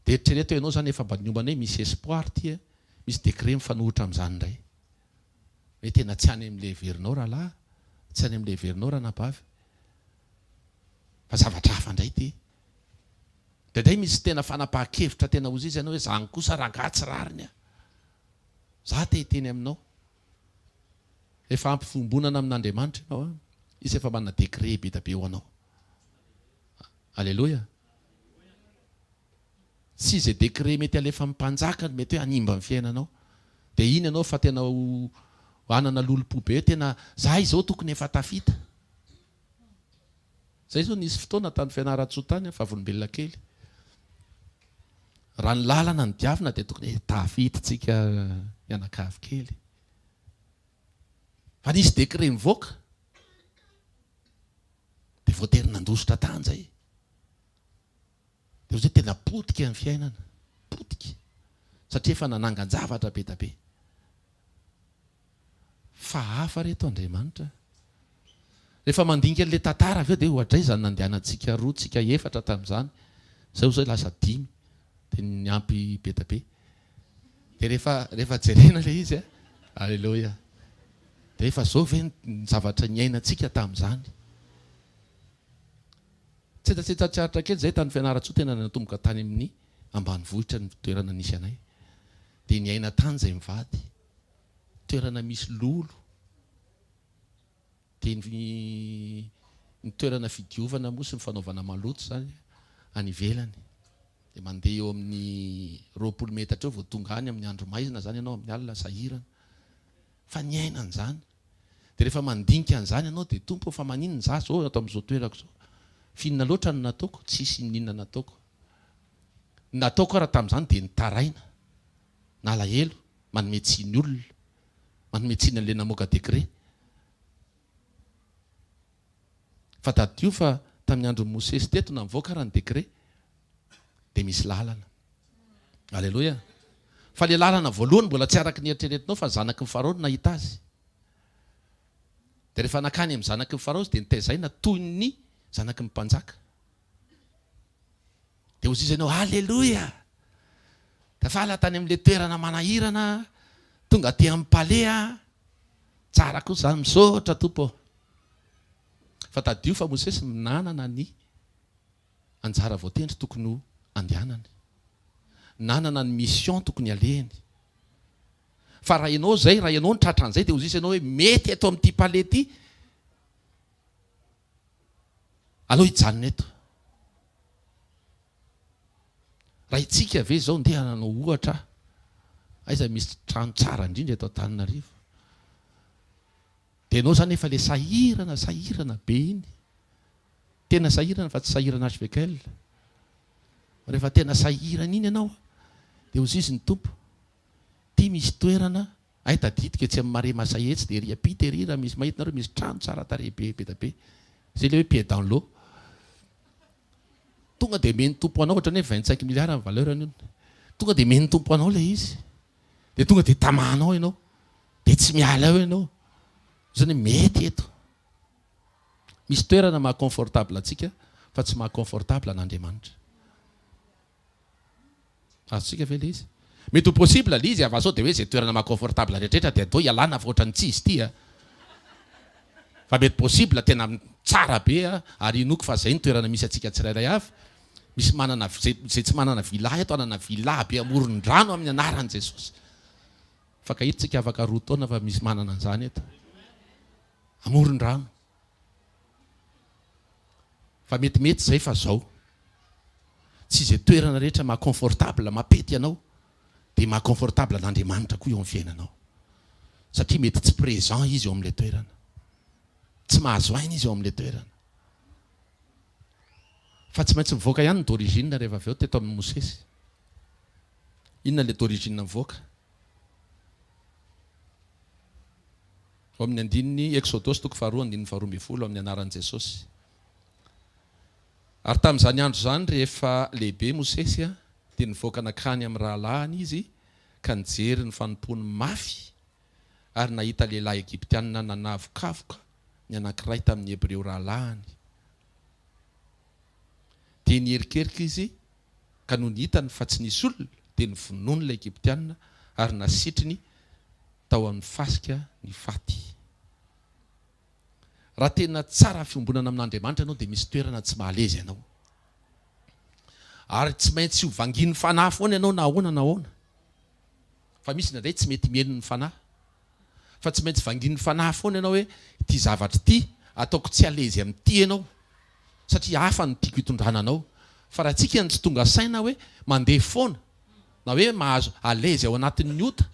Dia eritrereto hoe ianao izany efa mba niomana hoe misy espoir ity e, misy décret mifanohitra amin'izany indray. Hoe tena tsy any amin'ilay heverinao rahalahy, tsy any amin'ilay heverinao ranabavy. Fa zavatra hafa indray ity. Indraindray misy tena fanapahan-kevitra tena ho izy ianao hoe izany kosa rangahy tsy rariny a! Za te hiteny aminao. Efa ampy fiombonana amin'Andriamanitra ianao an. Izy efa manana degré be da be ho anao. Aleloia. Tsy izay degré mety alefan'ny mpanjaka no mety hoe hanimba ny fiainanao. Dia iny ianao fa tena ho hanana lolompo be hoe tena za izao tokony efa tafita. Zay zao nisy fotoana tany Fianarantsoa tany aho vavolombelona kely. Raha ny lalana no diavina dia tokony tafiditra tsika mianakavy kely. Fa nisy décret nivoaka. Dia voatery nandositra tany zay. Dia ohatran'ny hoe tena potika ny fiainana. Potika. Satria efa nanangan-javatra be dia be. Fa hafa ry eto Andriamanitra. Rehefa mandinika an'ilay tantara avy eo dia ohadraiza ny nandehanantsika roa, tsika efatra tamin'izany. Izay ho izay lasa dimy. Dia niampy be dia be. Dia rehefa, rehefa jerena ilay izy an. Aleloia. Dia efa izao ve ny zavatra niainantsika tamin'izany. Tsetsatsetsa tsiharitra kely izay tany Fianarantsoa tena natomboka tany amin'ny ambanivohitra ny toerana nisy anay dia niaina tany izay mivady toerana misy lolo dia ny ny toerana fidiovana moa sy ny fanaovana maloto izany any ivelany dia mandeha eo amin'ny roapolo metatra eo vao tonga any amin'ny andro maizina izany ianao amin'ny alina sahirana fa niaina an'izany Dia rehefa mandinika an'izany ianao dia Tompo ô fa maninona izaho izao ato amin'izao toerako izao? F'inona loatra no nataoko? Tsisy inon'inona nataoko. Ny nataoko ara tamin'izany dia nitaraina, nalahelo, manome tsiny olona, manome tsiny an'ilay namoaka décret. Fa tadidio fa tamin'ny andron'i Mosesy teto na mivoaka ara ny décret dia misy lalana. Aleloia. Fa ilay lalana voalohany mbola tsy araka ny eritreretinao fa zanaky ny Farao no nahita azy. Dia rehefa nankany amin'ny zanaky ny Farao izy dia notaizaina toy ny zanaky ny mpanjaka. Dia hoziza ianao, Haleloia! Tafala tany amin'ilay toerana manahirana, tonga aty amin'ny palais aho. Tsara kosa izany, misaotra Tompo ô. Fa tadidio fa Mosesy no nanana ny anjara voatendry tokony ho andehanany. Nanana ny mission tokony alehany. Fa raha ianao izay, raha ianao no tratra an'izay dia hoziza ianao hoe, mety eto amin'ity palais ity, Aleo hijanona eto. Raha hitsika ve izao ndeha hanao ohatra aho, aiza misy trano tsara indrindra eto Antananarivo? Dia ianao izany efa ilay sahirana sahirana be iny. Tena sahirana fa tsy sahirana hvl. Rehefa tena sahirana iny ianao dia hozizy ny Tompo, ity misy toerana Hay tadidiko etsy amin'ny marais masay etsy dia ery ampita ery raha misy mahita nareo misy trano tsara tarehy be be da be zay ilay hoe pied dans l'eau tonga dia omen'ny tompo anao ohatran'ny hoe vingt cinq milliards ny valeur an'io tonga dia omen'ny tompo anao ilay izy dia tonga dia tamahanao ianao dia tsy miala eo ianao izany hoe mety eto misy toerana maha confortable antsika fa tsy maha confortable an'Andriamanitra Azontsika ve le izy? Mety ho possible le izy a fa sao de hoe zay toerana maha confortable rehetraretra de atao ialana fa ohatran'ny tsy izy ity a! Fa mety possible tena tsara be a! Ary inoako fa zay ny toerana misy antsika tsirairay avy. Misy manana zay zay tsy manana villa eto hanana villa be amoron-drano amin'ny anaran'i Jesosy. Fankahitsika afaka roa taona fa misy manana an'izany eto. Amoron-drano. Fa mety mety izay fa zao tsy izay toerana rehetra maha confortable mapety ianao dia maha confortable an'Andriamanitra koa eo amin'ny fiainanao satria mety tsy présent izy eo amin'ilay toerana tsy mahazo aina izy eo amin'ilay toerana fa tsy maintsy mivoaka ihany ny d'origine rehefa avy eo teto amin'ny Mosesy inona ilay d'origine mivoaka Ao amin'ny andininy Eksodosy toko faharoa andininy faharoa ambin'ny folo amin'ny anaran'i Jesosy. Ary tamin'izany andro izany rehefa lehibe Mosesy dia nivoaka nankany amin'ny rahalahiny izy ka nijery ny fanompoany mafy ary nahita lehilahy Egyptianina nanavokavoka ny anankiray tamin'ny Hebreo rahalahiny dia niherikerika izy ka nony hitany fa tsy nisy olona, dia novonoiny ilay Egyptianina ary nasitriny tao amin'ny fasika ny faty. Raha tena tsara fiombonana amin'Andriamanitra ianao dia misy toerana tsy mahalezy anao. Ary tsy maintsy ho vangian'ny fanahy foana ianao na ahoana na ahoana. Fa misy indraindray tsy mety mieno ny fanahy. Fa tsy maintsy vangian'ny fanahy foana ianao hoe ity zavatra ity ataoko tsy alezy amin'ity ianao satria hafa no tiako hitondrana anao. Fa raha antsika no tsy tonga saina hoe mandeha foana na hoe mahazo alezy ao anatin'ny ota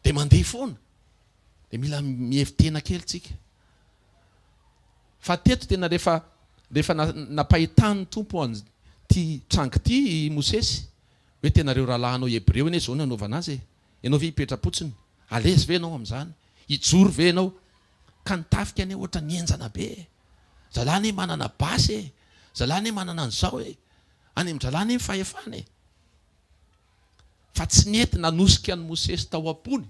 dia mandeha foana dia mila mihevi-tena kely tsika. Fa teto tena rehefa rehefa napahitan'ny Tompo an'ity trango ity i Mosesy. Hoe tena ireo rahalahinao Hebreo anie izao no hanaovana azy e! Ianao ve hipetra-potsiny? Alezy ve ianao amin'izany? Hijoro ve ianao? Ka ny tafika anie ohatra ny henjana be e! Zalahy anie manana basy e! Zalahy anie manana an'izao e! Any amin-dRalahy anie ny fahefana e! Fa tsy nety nanosika an'i Mosesy tao am-pony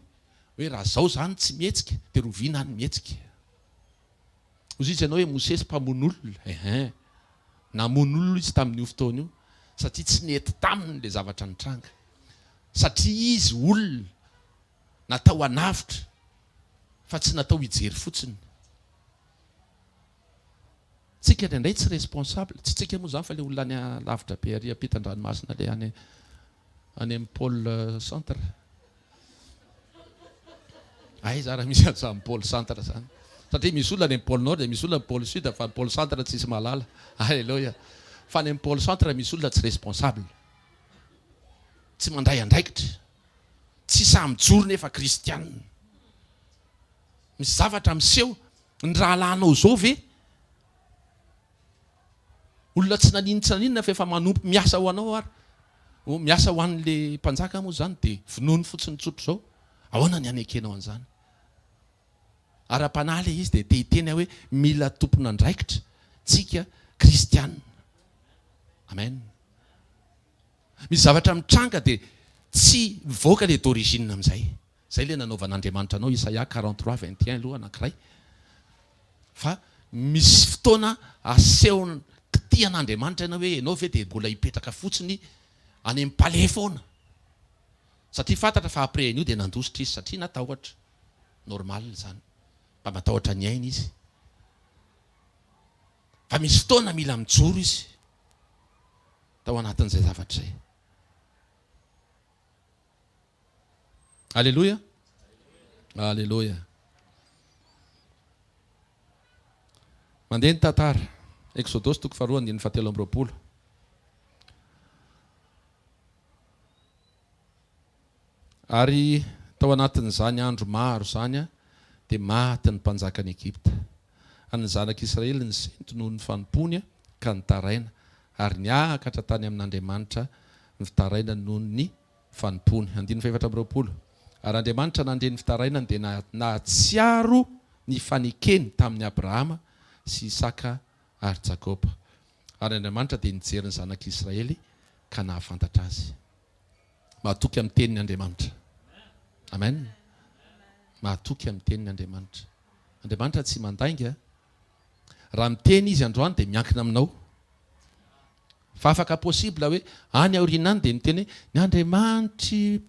hoe raha izao izany tsy mihetsika dia rovina ny mihetsika. Hoy izy ianao hoe Mosesy mpamono olona eh eh. Namono olona izy tamin'io fotoana io satria tsy nety taminy ilay zavatra nitranga. Satria izy olona natao hanavotra fa tsy natao hijery fotsiny. Tsika any indray tsy responsable, tsy tsika moa izany fa ilay olona any lavitra be ary ampitan-dranomasina ilay any any amin'ny pole centre. Aiza ary misy an'izany pole centre zany? Satria misy olona any amin'ny pole nord dia misy olona amin'ny pole sud fa ny pole centre tsisy mahalala. Aleloia. Fa any amin'ny pole centre misy olona tsy responsable. Tsy mandray andraikitra. Tsy sahy mijoro nefa kristiana. Misy zavatra miseho, ny rahalahinao izao ve? Olona tsy naninona tsy naninona fa efa manompo miasa ho anao ary oh miasa ho an'le mpanjaka moa zany de vonoiny fotsiny tsotra zao ahoana ny hanekenao an'zany? Ara-panahy le izy de te hiteny aho hoe mila tompon'andraikitra tsika kristiana amen misy zavatra mitranga de tsy mivoaka le d'origine am'zay Zay le nanaovan'Andriamanitra anao Isaia quarante trois vingt et un aloha anankiray fa misy fotoana asehony kitihan'Andriamanitra ianao hoe ianao ve de mbola hipetraka fotsiny any am palais foana satria fantatra fa après an'io de nandositra izy satria natahotra normal zany mba matahotra ny ainy izy fa misy fotoana mila mijoro izy tao anatin'izay zavatra zay. Aleloia! Aleloia! Mandeha ny tantara. Eksodosy toko faharoa andininy fahatelo amby roapolo. Ary tao anatin'izany andro maro izany dia maty ny mpanjakan'i Egypta. Ary ny Zanak'i Israely nisento noho ny fanompoany ka nitaraina, ary niakatra tany amin'Andriamanitra ny fitarainany noho ny fanompoany. Andininy fahefatra amby roapolo. Ary Andriamanitra nandre ny fitarainany dia nahatsiaro ny fanekeny tamin'i Abrahama sy Isaka ary Jakoba. Ary Andriamanitra dia nijery ny Zanak'i Israely ka nahafantatra azy. Mahatoky amin'ny Teniny Andriamanitra. Amen. Mahatoky amin'ny Teniny Andriamanitra. Andriamanitra tsy mandainga. Raha miteny Izy androany dia miankina aminao. Fa afaka possible hoe any aoriana any dia miteny hoe, Ny Andriamanitr'i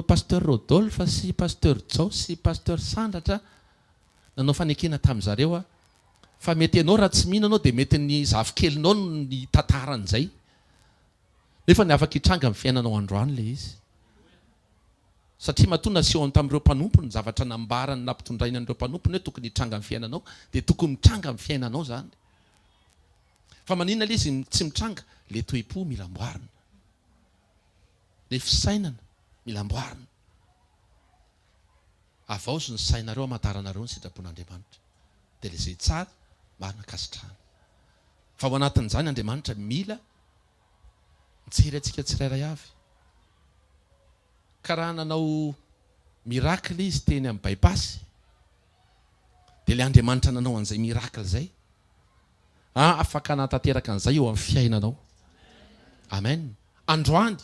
Pasteur Rodolphe sy Pasteur Jao sy Pasteur Sandratra nanao fanekena tamin'ny zareo aho. Fa mety ianao raha tsy mino anao dia mety ny zafikelinao no nitantara an'izay. Nefa ny afaka hitranga amin'ny fiainanao androany ilay izy. Satria matoa nasehony tamin'ireo mpanompony ny zavatra nambarany na ampitondrainy an'ireo mpanompony hoe tokony hitranga amin'ny fiainanao dia tokony mitranga amin'ny fiainanao izany. Fa maninona ilay izy tsy mitranga? Ilay toe-po mila amboarina. Ilay fisainana mila amboarina. Avaozo ny sainareo hamantaranareo ny sitrapon'Andriamanitra. Dia ilay izay tsara, marina, ankasitrahana. Fa ao anatin'izany Andriamanitra mila. mijery antsika tsirairay avy. Ka raha nanao miracle izy teny amin'ny bypass, dia ilay Andriamanitra nanao an'izay miracle izay, afaka hanatanteraka an'izay eo amin'ny fiainanao. Amen. Androany,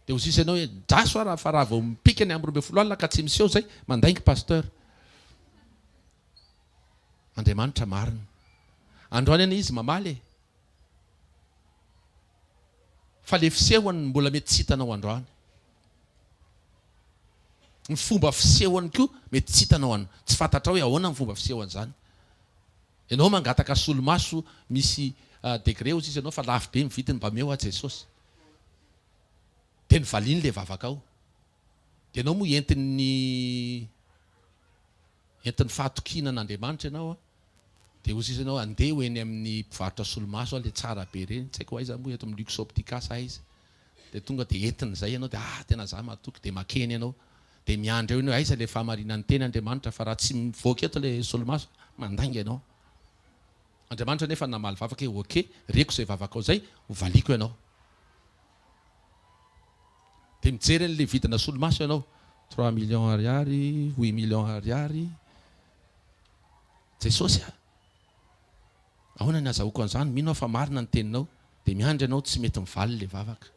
dia ho sisa ianao hoe, Draso aho raha fa raha vao mipika ny amby roa ambin'ny folo alina ka tsy miseho izay, mandainga Pasteur. Andriamanitra marina. Androany anie Izy mamaly e. Fa le fisehony no mbola mety tsy hitanao androany. Ny fomba fisehony koa mety tsy hitanao an. Tsy fantatrao hoe ahoana ny fomba fisehony zany. Enao mangataka solomaso misy degré ozy izy anao fa lafo be ny vidiny mba meo aho Jesosy. De novaliny le vavakao. De enao moa entin'ny entin'ny fahatokiana an'Andriamanitra enao an. Dia ho zizany aho handeha ho eny amin'ny mpivarotra solomaso aho ilay tsara be ireny, tsy haiko aiza moa eto amin'ny Luxoptica sa aiza. Dia tonga dia entiny izay ianao dia ah tena za matoky dia makeny ianao. Dia miandry eo ianao hoe aiza ilay fahamarinan'ny teny Andriamanitra fa raha tsy mivoaka eto ilay solomaso dia mandainga ianao. Andriamanitra anefa namaly vavaka hoe ok, reko izay vavakao izay, ho valiako ianao. Dia mijery an'ilay vidina solomaso ianao, trois millions ariary, huit millions ariary. Jesosy a! Ahoana ny azahoako an'izany? Mino aho fa marina ny teninao. Dia miandry anao tsy mety mivaly ilay vavaka.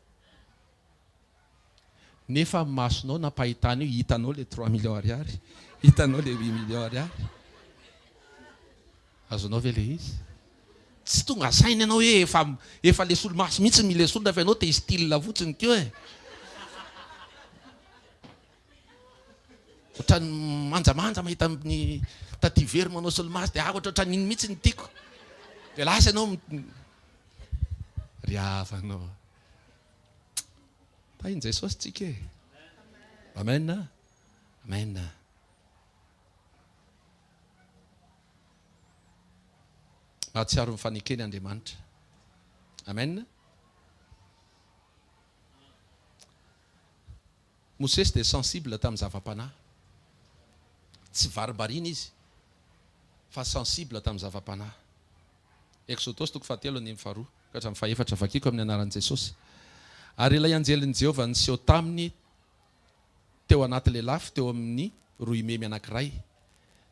Nefa amin'ny masonao nampahitana io, hitanao ilay trois millions ariary? Hitanao ilay huit millions ariary? Azonao ve ilay izy? Tsy tonga saina ianao hoe efa, efa le solomaso mihitsy no milesolona fa ianao te-histyle fotsiny koa e! Ohatran'ny manjamanja mahita an'i Taty very manao solomaso dia ahako ohatran'ny iny mihitsy no tiako. Dia lasa ianao ry havanao. Tahin'i Jesosy tsika e. Amen. Amen. Mahatsiaro ny fanekeny Andriamanitra. Amen. Mosesy dia sensible tamin'ny zava-panahy. Tsy varibarina izy fa sensible tamin'ny zava-panahy. Eksodosy toko fahatelo andininy faharoa ka hatramin'ny fahefatra, Vakiko amin'ny anaran'i Jesosy. Ary ilay anjelin'i Jehovah niseho taminy teo anaty lelafo teo amin'ny roimemy anankiray.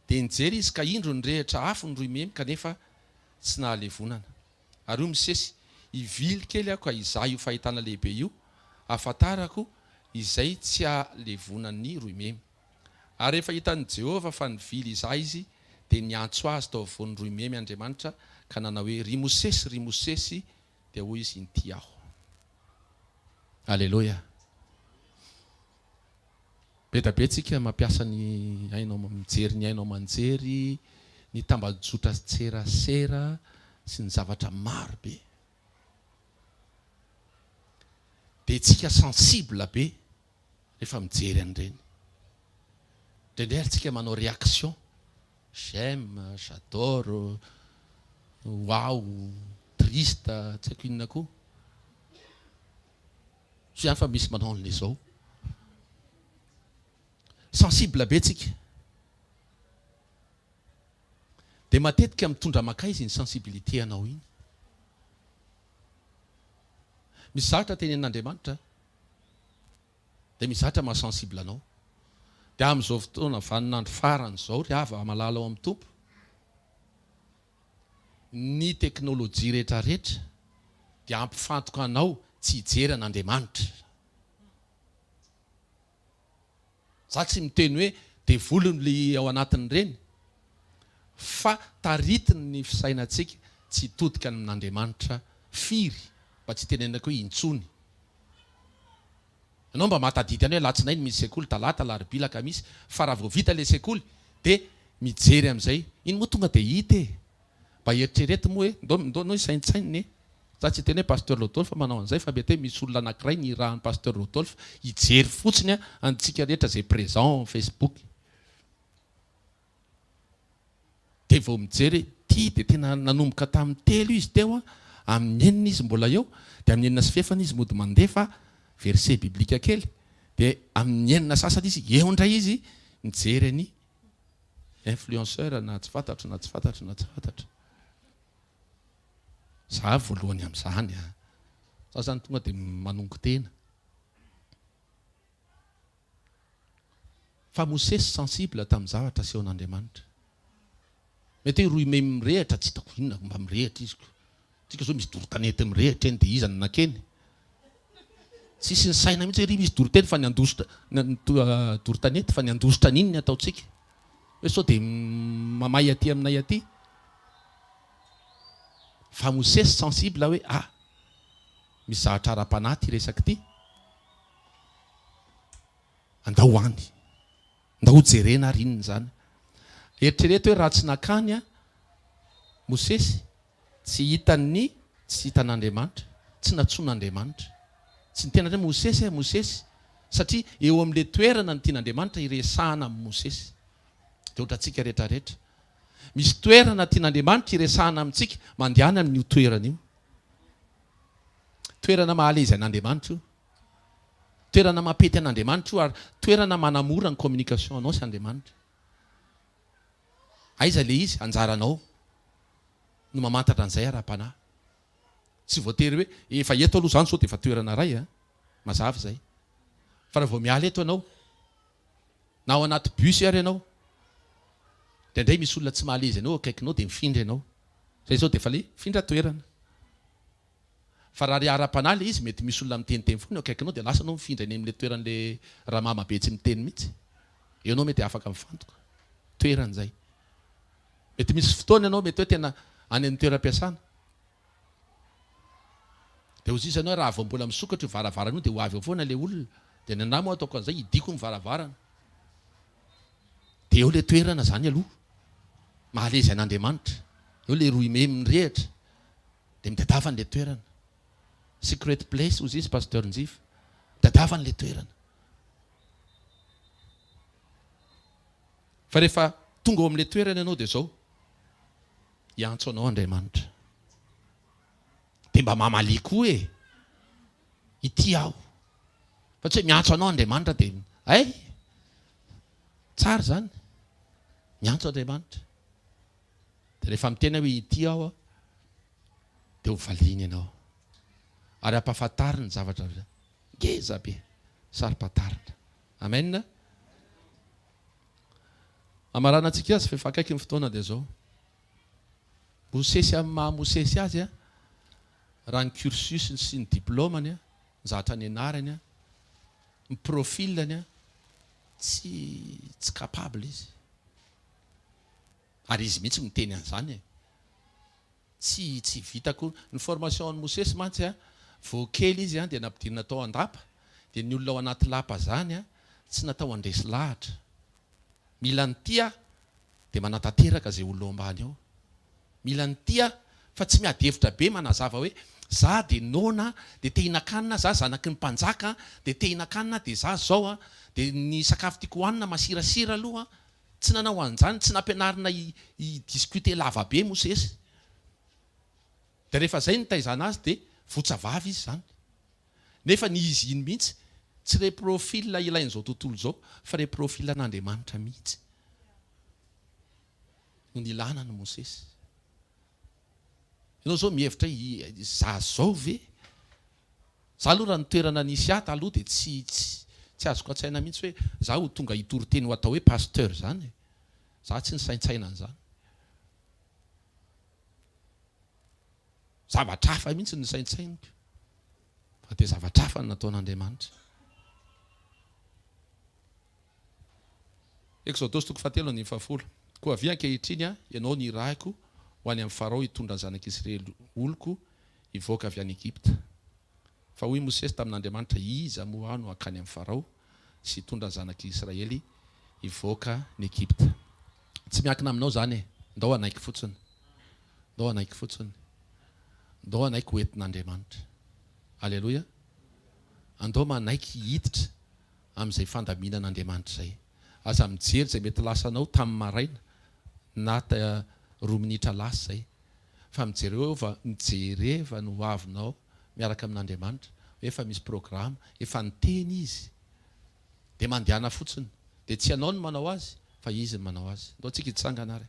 Dia nijery izy ka indro nirehitra afo ny roimemy kanefa tsy nahalevonana. Ary hoy Mosesy, Hivily kely aho ka hizaha io fahitana lehibe io, hahafantarako izay tsy ahalevonan'ny roimemy. Ary rehefa hitan'i Jehovah fa nivily hizaha izy, dia niantso azy tao afovoan'ny roimemy Andriamanitra ka nanao hoe, Ry Mosesy, ry Mosesy! Dia hoy izy, Inty aho. Aleloia! Be da be tsika mampiasa ny haino aman mijery ny haino aman-jery, ny tambajotra sy tserasera sy ny zavatra maro be. Dia tsika sensible be rehefa mijery an'ireny. Indraindray ary tsika manao réaction, j'aime, j'adore, waouh, triste, tsy haiko inona koa. Tsy afa misy manao anle zao. Sensible be tsika. Dia matetika mitondra makaiza iny sensibilité anao iny. Misy zavatra tenenin'Andriamanitra dia misy zavatra maha sensible anao. Dia amin'izao fotoana vanin'andro farany izao ry hava malala ao amin'ny Tompo, Ny teknolojia rehetra rehetra dia hampifantoka anao tsy hijery an'Andriamanitra. Za tsy miteny hoe devoliny le ao anatin'ireny fa taritiny ny fisainantsika tsy hitodika amin'Andriamanitra firy mba tsy hitenenako hoe intsony. Ianao mba mahatadidy any hoe alatsinainy misy sekoly, talata, alarobia, alakamisy, fa raha vao vita ilay sekoly dia mijery amin'izay. Iny moa tonga dia hita e! Mba eritrereto moa hoe, ndao ndao anao hisaintsainina e! Za tsy hiteny hoe Pasteur Rodolphe manao an'izay fa mety hoe misy olona anankiray nirahan'i Pasteur Rodolphe hijery fotsiny antsika rehetra izay présent ao amin'ny Facebook. Dia vao mijery hoe ity dia tena nanomboka tamin'ny telo izy teo an, amin'ny enina izy mbola eo, dia amin'ny enina sy fefany izy mody mandefa verset biblique kely, dia amin'ny enina sasany izy eo indray izy mijery an'i influenceur na tsy fantatro na tsy fantatro na tsy fantatro. Za voalohany amin'izany an! Za zany tonga dia manongo tena. Fa Mosesy sensible tamin'ny zavatra asehon'Andriamanitra. Mety hoe rohy may mirehitra, tsy hitako inona no mba mirehitra izy ko. Antsika zao misy dorotanety mirehitra eny dia iza no nakeny? Tsisy nisaina mihitsy hoe ry misy doroteny fa ny handositra dorotanety fa ny handositra an'iny ny ataontsika. Hoe sao dia mamay aty aminay aty. Fa Mosesy sensible hoe ah, misy zavatra ara-panahy ity resaka ity. Andao any. Andao jerena ary inona izany. Eritrereto hoe raha tsy nankany Mosesy, tsy hitany ny tsy hitan'Andriamanitra, tsy nantsoin'Andriamanitra. Tsy niteny indray Mosesy eh, Mosesy. Satria eo amin'ilay toerana no tian'Andriamanitra hiresahana amin'i Mosesy. Dia ohatra antsika rehetra rehetra. Misy toerana tian'Andriamanitra hiresahana amintsika, mandehana amin'io toerana io. Toerana mahalehizy an'Andriamanitra io. Toerana mampety an'Andriamanitra io ary toerana manamora ny communication anao sy Andriamanitra. Aiza ilay izy? Anjaranao no mamantatra an'izay ara-panahy. Tsy voatery hoe efa eto aloha izany sao dia efa toerana iray an! Mazava izay. Fa raha vao miala eto ianao, na ao anaty bus ary ianao, indraindray misy olona tsy mahalezy anao eo akaikinao dia mifindra ianao. Izay izao dia efa ilay mifindra toerana. Fa raha le ara-panahy le izy mety misy olona miteniteny foana eo akaikinao de lasa anao mifindra eny amle toeranle ramama be tsy miteny mitsy eo anao mety afaka mifantoka toerany zay mety misy fotoana ianao mety hoe tena any amny toeram-piasana de ho ziza anao raha vao mbola misokatra io varavarana io de ho avy eo foana le olona de ny anah moa ataoko anzay hidiko ny varavarana de eo le toerana zany aloha mahalezy an'Andriamanitra eo le rohy memy mirehatra Dia midadava an'ilay toerana. Secret place hozy izy Pasteur Njifa. Midadava an'ilay toerana. Fa rehefa tonga ao amin'ilay toerana ianao dia izao, hiantso anao Andriamanitra. Dia mba mamalia koa e! Ity aho. Fa tsy hoe miantso anao Andriamanitra dia hay! Tsara izany. Miantso Andriamanitra. Dia rehefa miteny aho hoe ity aho an, dia ho valiany ianao ary ampahafantariny zavatra ngeza be saro-pantarina. Amen. Hamaranantsika azy fa efa akaiky ny fotoana dia izao. Mosesy amin'ny maha Mosesy azy an, raha ny cursus-ny sy ny diplaomany an, ny zavatra nianarany an, ny profil-ny an, tsy, tsy capable izy. Ary izy mihitsy miteny an'izany e! Tsy tsy vita akory. Ny formation an'i Mosesy mantsy a, vao kely izy dia nampidinina tao an-dapa, dia ny olona ao anaty lapa izany a, tsy natao handresy lahatra. Mila ny tia dia manatanteraka izay olona ao ambany ao. Mila ny tia fa tsy miady hevitra be manazava hoe, za dia noana dia te hihinan-kanina, za zanaky ny mpanjaka dia te hihinan-kanina dia za zao a, dia ny sakafo tiako hohanina masirasira aloha a! Tsy nanao an'izany, tsy nampianarina hi discuter lava be Mosesy. Dia rehefa izay nitaizana azy dia votsa vava izy izany. Nefa ny izy iny mihitsy tsy re profil ilain'izao tontolo izao fa re profil an'Andriamanitra mihitsy no nilana an'i Mosesy. Enao zao mihevitra hoe izaho izao ve? Za aloha raha ny toerana nisy ahy taloha dia tsy tsy azoko an-tsaina mihitsy hoe za ho tonga hitory teny ho atao hoe pasteur zany e! Za tsy nisaintsaina an'izany. Zavatra hafa mihitsy no nisaintsainiko fa dia zavatra hafa no nataon'Andriamanitra. Eksodosy toko fahatelo andininy fahafolo Koa avia ankehitriny aho, ianao no irahiko, ho any amin'i Farao hitondra ny zanak'i Isiraely oloko hivoaka avy any Egypta. Fa hoy Mosesy tamin'Andriamanitra, Iza moa aho no hankany amin'i Farao sy hitondra ny zanak'i Isiraely hivoaka ny Egypta? Tsy miankina aminao izany e! Ndao hanaiky fotsiny! Ndao hanaiky fotsiny! Ndao hanaiky ho entin'Andriamanitra! Aleloia! Andao manaiky hiditra amin'izay fandaminana Andriamanitra izay. Aza mijery izay mety lasanao tamin'ny maraina na roa minitra lasa izay, fa mijereo eo fa mijereva ny hoavinao miaraka amin'Andriamanitra, hoe efa misy programa, efa niteny Izy, dia mandehana fotsiny, dia tsy ianao no manao azy fa Izy no manao azy. Ndao tsika hitsangana ary.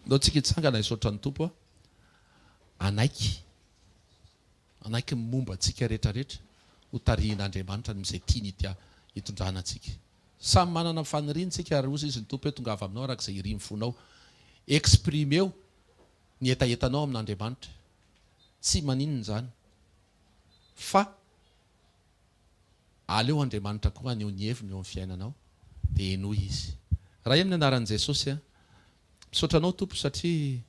Ndao tsika hitsangana hisaotra ny Tompo hanaiky Hanaiky ny momba antsika rehetra rehetra ho tarihin'Andriamanitra noho izay tiany hitya hitondrana antsika. Samy manana ny faniriany isika ary hozy izy ny Tompo hoe tongava aminao araka izay irin'ny fonao. Exprimer-o ny hetahetanao amin'Andriamanitra. Tsy maninona izany fa aleo Andriamanitra koa haneho ny heviny eo amin'ny fiainanao dia henoy izy. Ray amin'ny anaran'i Jesosy a. Misaotra anao Tompo satria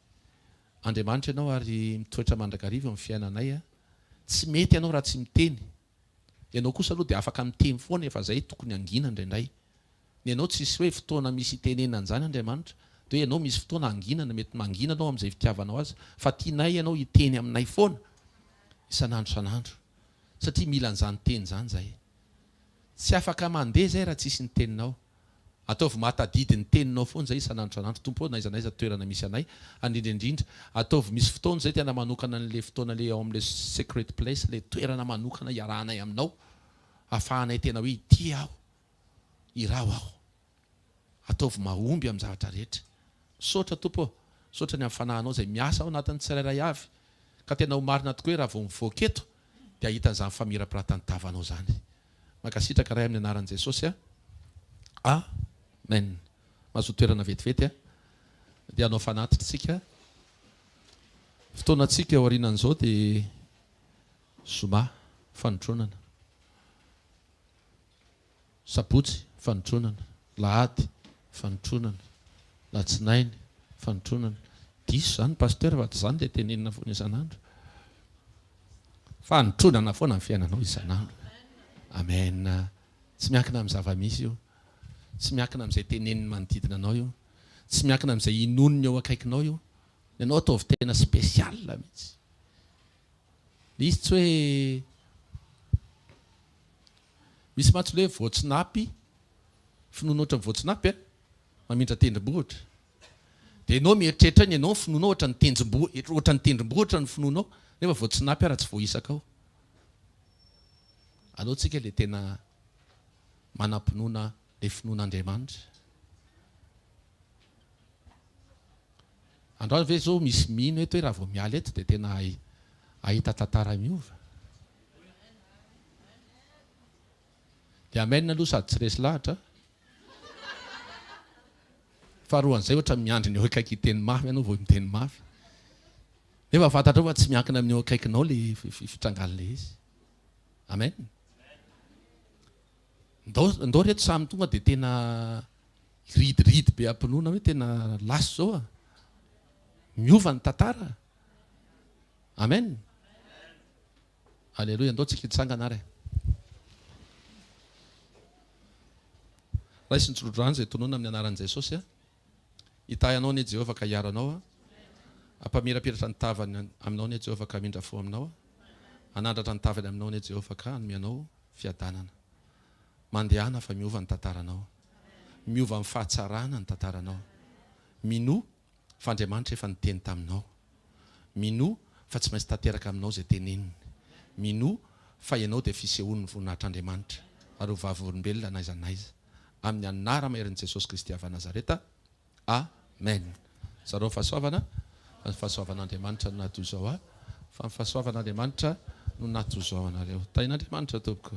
Andriamanitra ianao ary mitoetra mandrakariva ny fiainanay a! Tsy mety ianao raha tsy miteny. Ianao kosa aloha dia afaka miteny foana efa izay tokony hangina indraindray. Ny anao tsisy hoe fotoana misy hitenenana an'izany Andriamanitra, dia hoe ianao misy fotoana hanginana, mety mangina anao amin'izay fitiavanao azy, fa tianay ianao hiteny aminay foana isan'andro isan'andro satria mila an'izany teny izany izahay. Tsy afaka mandeha izay raha tsisy ny teninao. Ataovy mahatadidy ny teninao fonja isan'andro isan'andro Tompo ô n'aiza n'aiza toerana misy anay Andrindra indrindra ataovy misy fotoana izay tena manokana an'le fotoana le ao amle secret place le toerana manokana iarahanay aminao afahanay tena hoe ity aho iraho aho ataovy mahomby am zavatra rehetra Misaotra Tompo ô Misaotra ny am fanahinao izay miasa ao anatin'ny tsirairay avy ka tena ho marina tokoa hoe raha vao mivoaka eto dia ahita an'izany famirapiratan'ny tavanao izany Mankasitraka Ray amin'ny anaran'i Jesosy a Amen Mazoa toerana vetivety a Dia hanao fanatitra isika Fotoanantsika aorianan'izao dia Zoma fanotronana Sabotsy fanotronana. Lahady, fanotronana. Latsinainy, fanotronana. Diso izany Pasteur fa tsy izany ilay tenenina foana isan'andro. Fanotronana foana ny fiainanao isan'andro. Amen. Tsy miankina amin'ny zava-misy io. Tsy miankina amin'izay tenenin'ny manodidina anao io. Tsy miankina amin'izay inoan'ny eo akaikinao io. Ianao ataovy tena special mihitsy. Ilay izy tsy hoe. Misy mantsy le voatsinapy, finoana ohatran'ny voatsinapy a, mamindra tendromboa ohatra. Dia ianao mieritreritra iny, ianao ny finoanao ohatran'ny tendromboa, ohatran'ny tendromboa ohatra ny finoanao, nefa voatsinapy ary tsy voaisaka ao. Aleo tsika le tena manam-pinoana le finoana Andriamanitra. Androany ve zao misy mino eto hoe raha vao miala eto dia tena hahita tantara miova? Dia amen aloha sady tsy resy lahatra a! Faharoan'izay ohatra ny miandry ny eo akaiky hiteny mafy ianao vao miteny mafy. Nefa fantatrao fa tsy miankina amin'ny eo akaikinao ilay fitrangan'ilay izy. Amen. Ndao ndao reto samy tonga dia tena hiridiridy be am-pinoana hoe tena last zao a. Miova ny tantara. Amen. Aleloia, ndao tsika hitsangana ary. Raisin'ny tsodrano izay tononina amin'ny anaran'i Jesosy a. Hitahy anao anie Jehovah ka hiaro anao a. Hampamirapiratra ny tavany aminao anie Jehovah ka hamindra fo aminao a. Hanandratra ny tavany aminao anie Jehovah ka hanome anao fiadanana. Mandehana fa miova ny tantaranao. Miova amin'ny fahatsarana ny tantaranao. Minoa Fa Andriamanitra efa niteny taminao. Minoa fa tsy maintsy tanteraka aminao izay teneniny. Minoa fa ianao dia fisehoan'ny voninahitr'Andriamanitra ary ho vavolombelona n'aiza n'aiza. Amin'ny Anaramaherin'i Jesosy Kristy avy Nazareta. Amen. Zarao ny fahasoavana. Fa ny fahasoavan'Andriamanitra no nahadoa izao ahy. Fa ny fahasoavan'Andriamanitra no nahadoa izao anareo. Tahin'Andriamanitra, tompoko.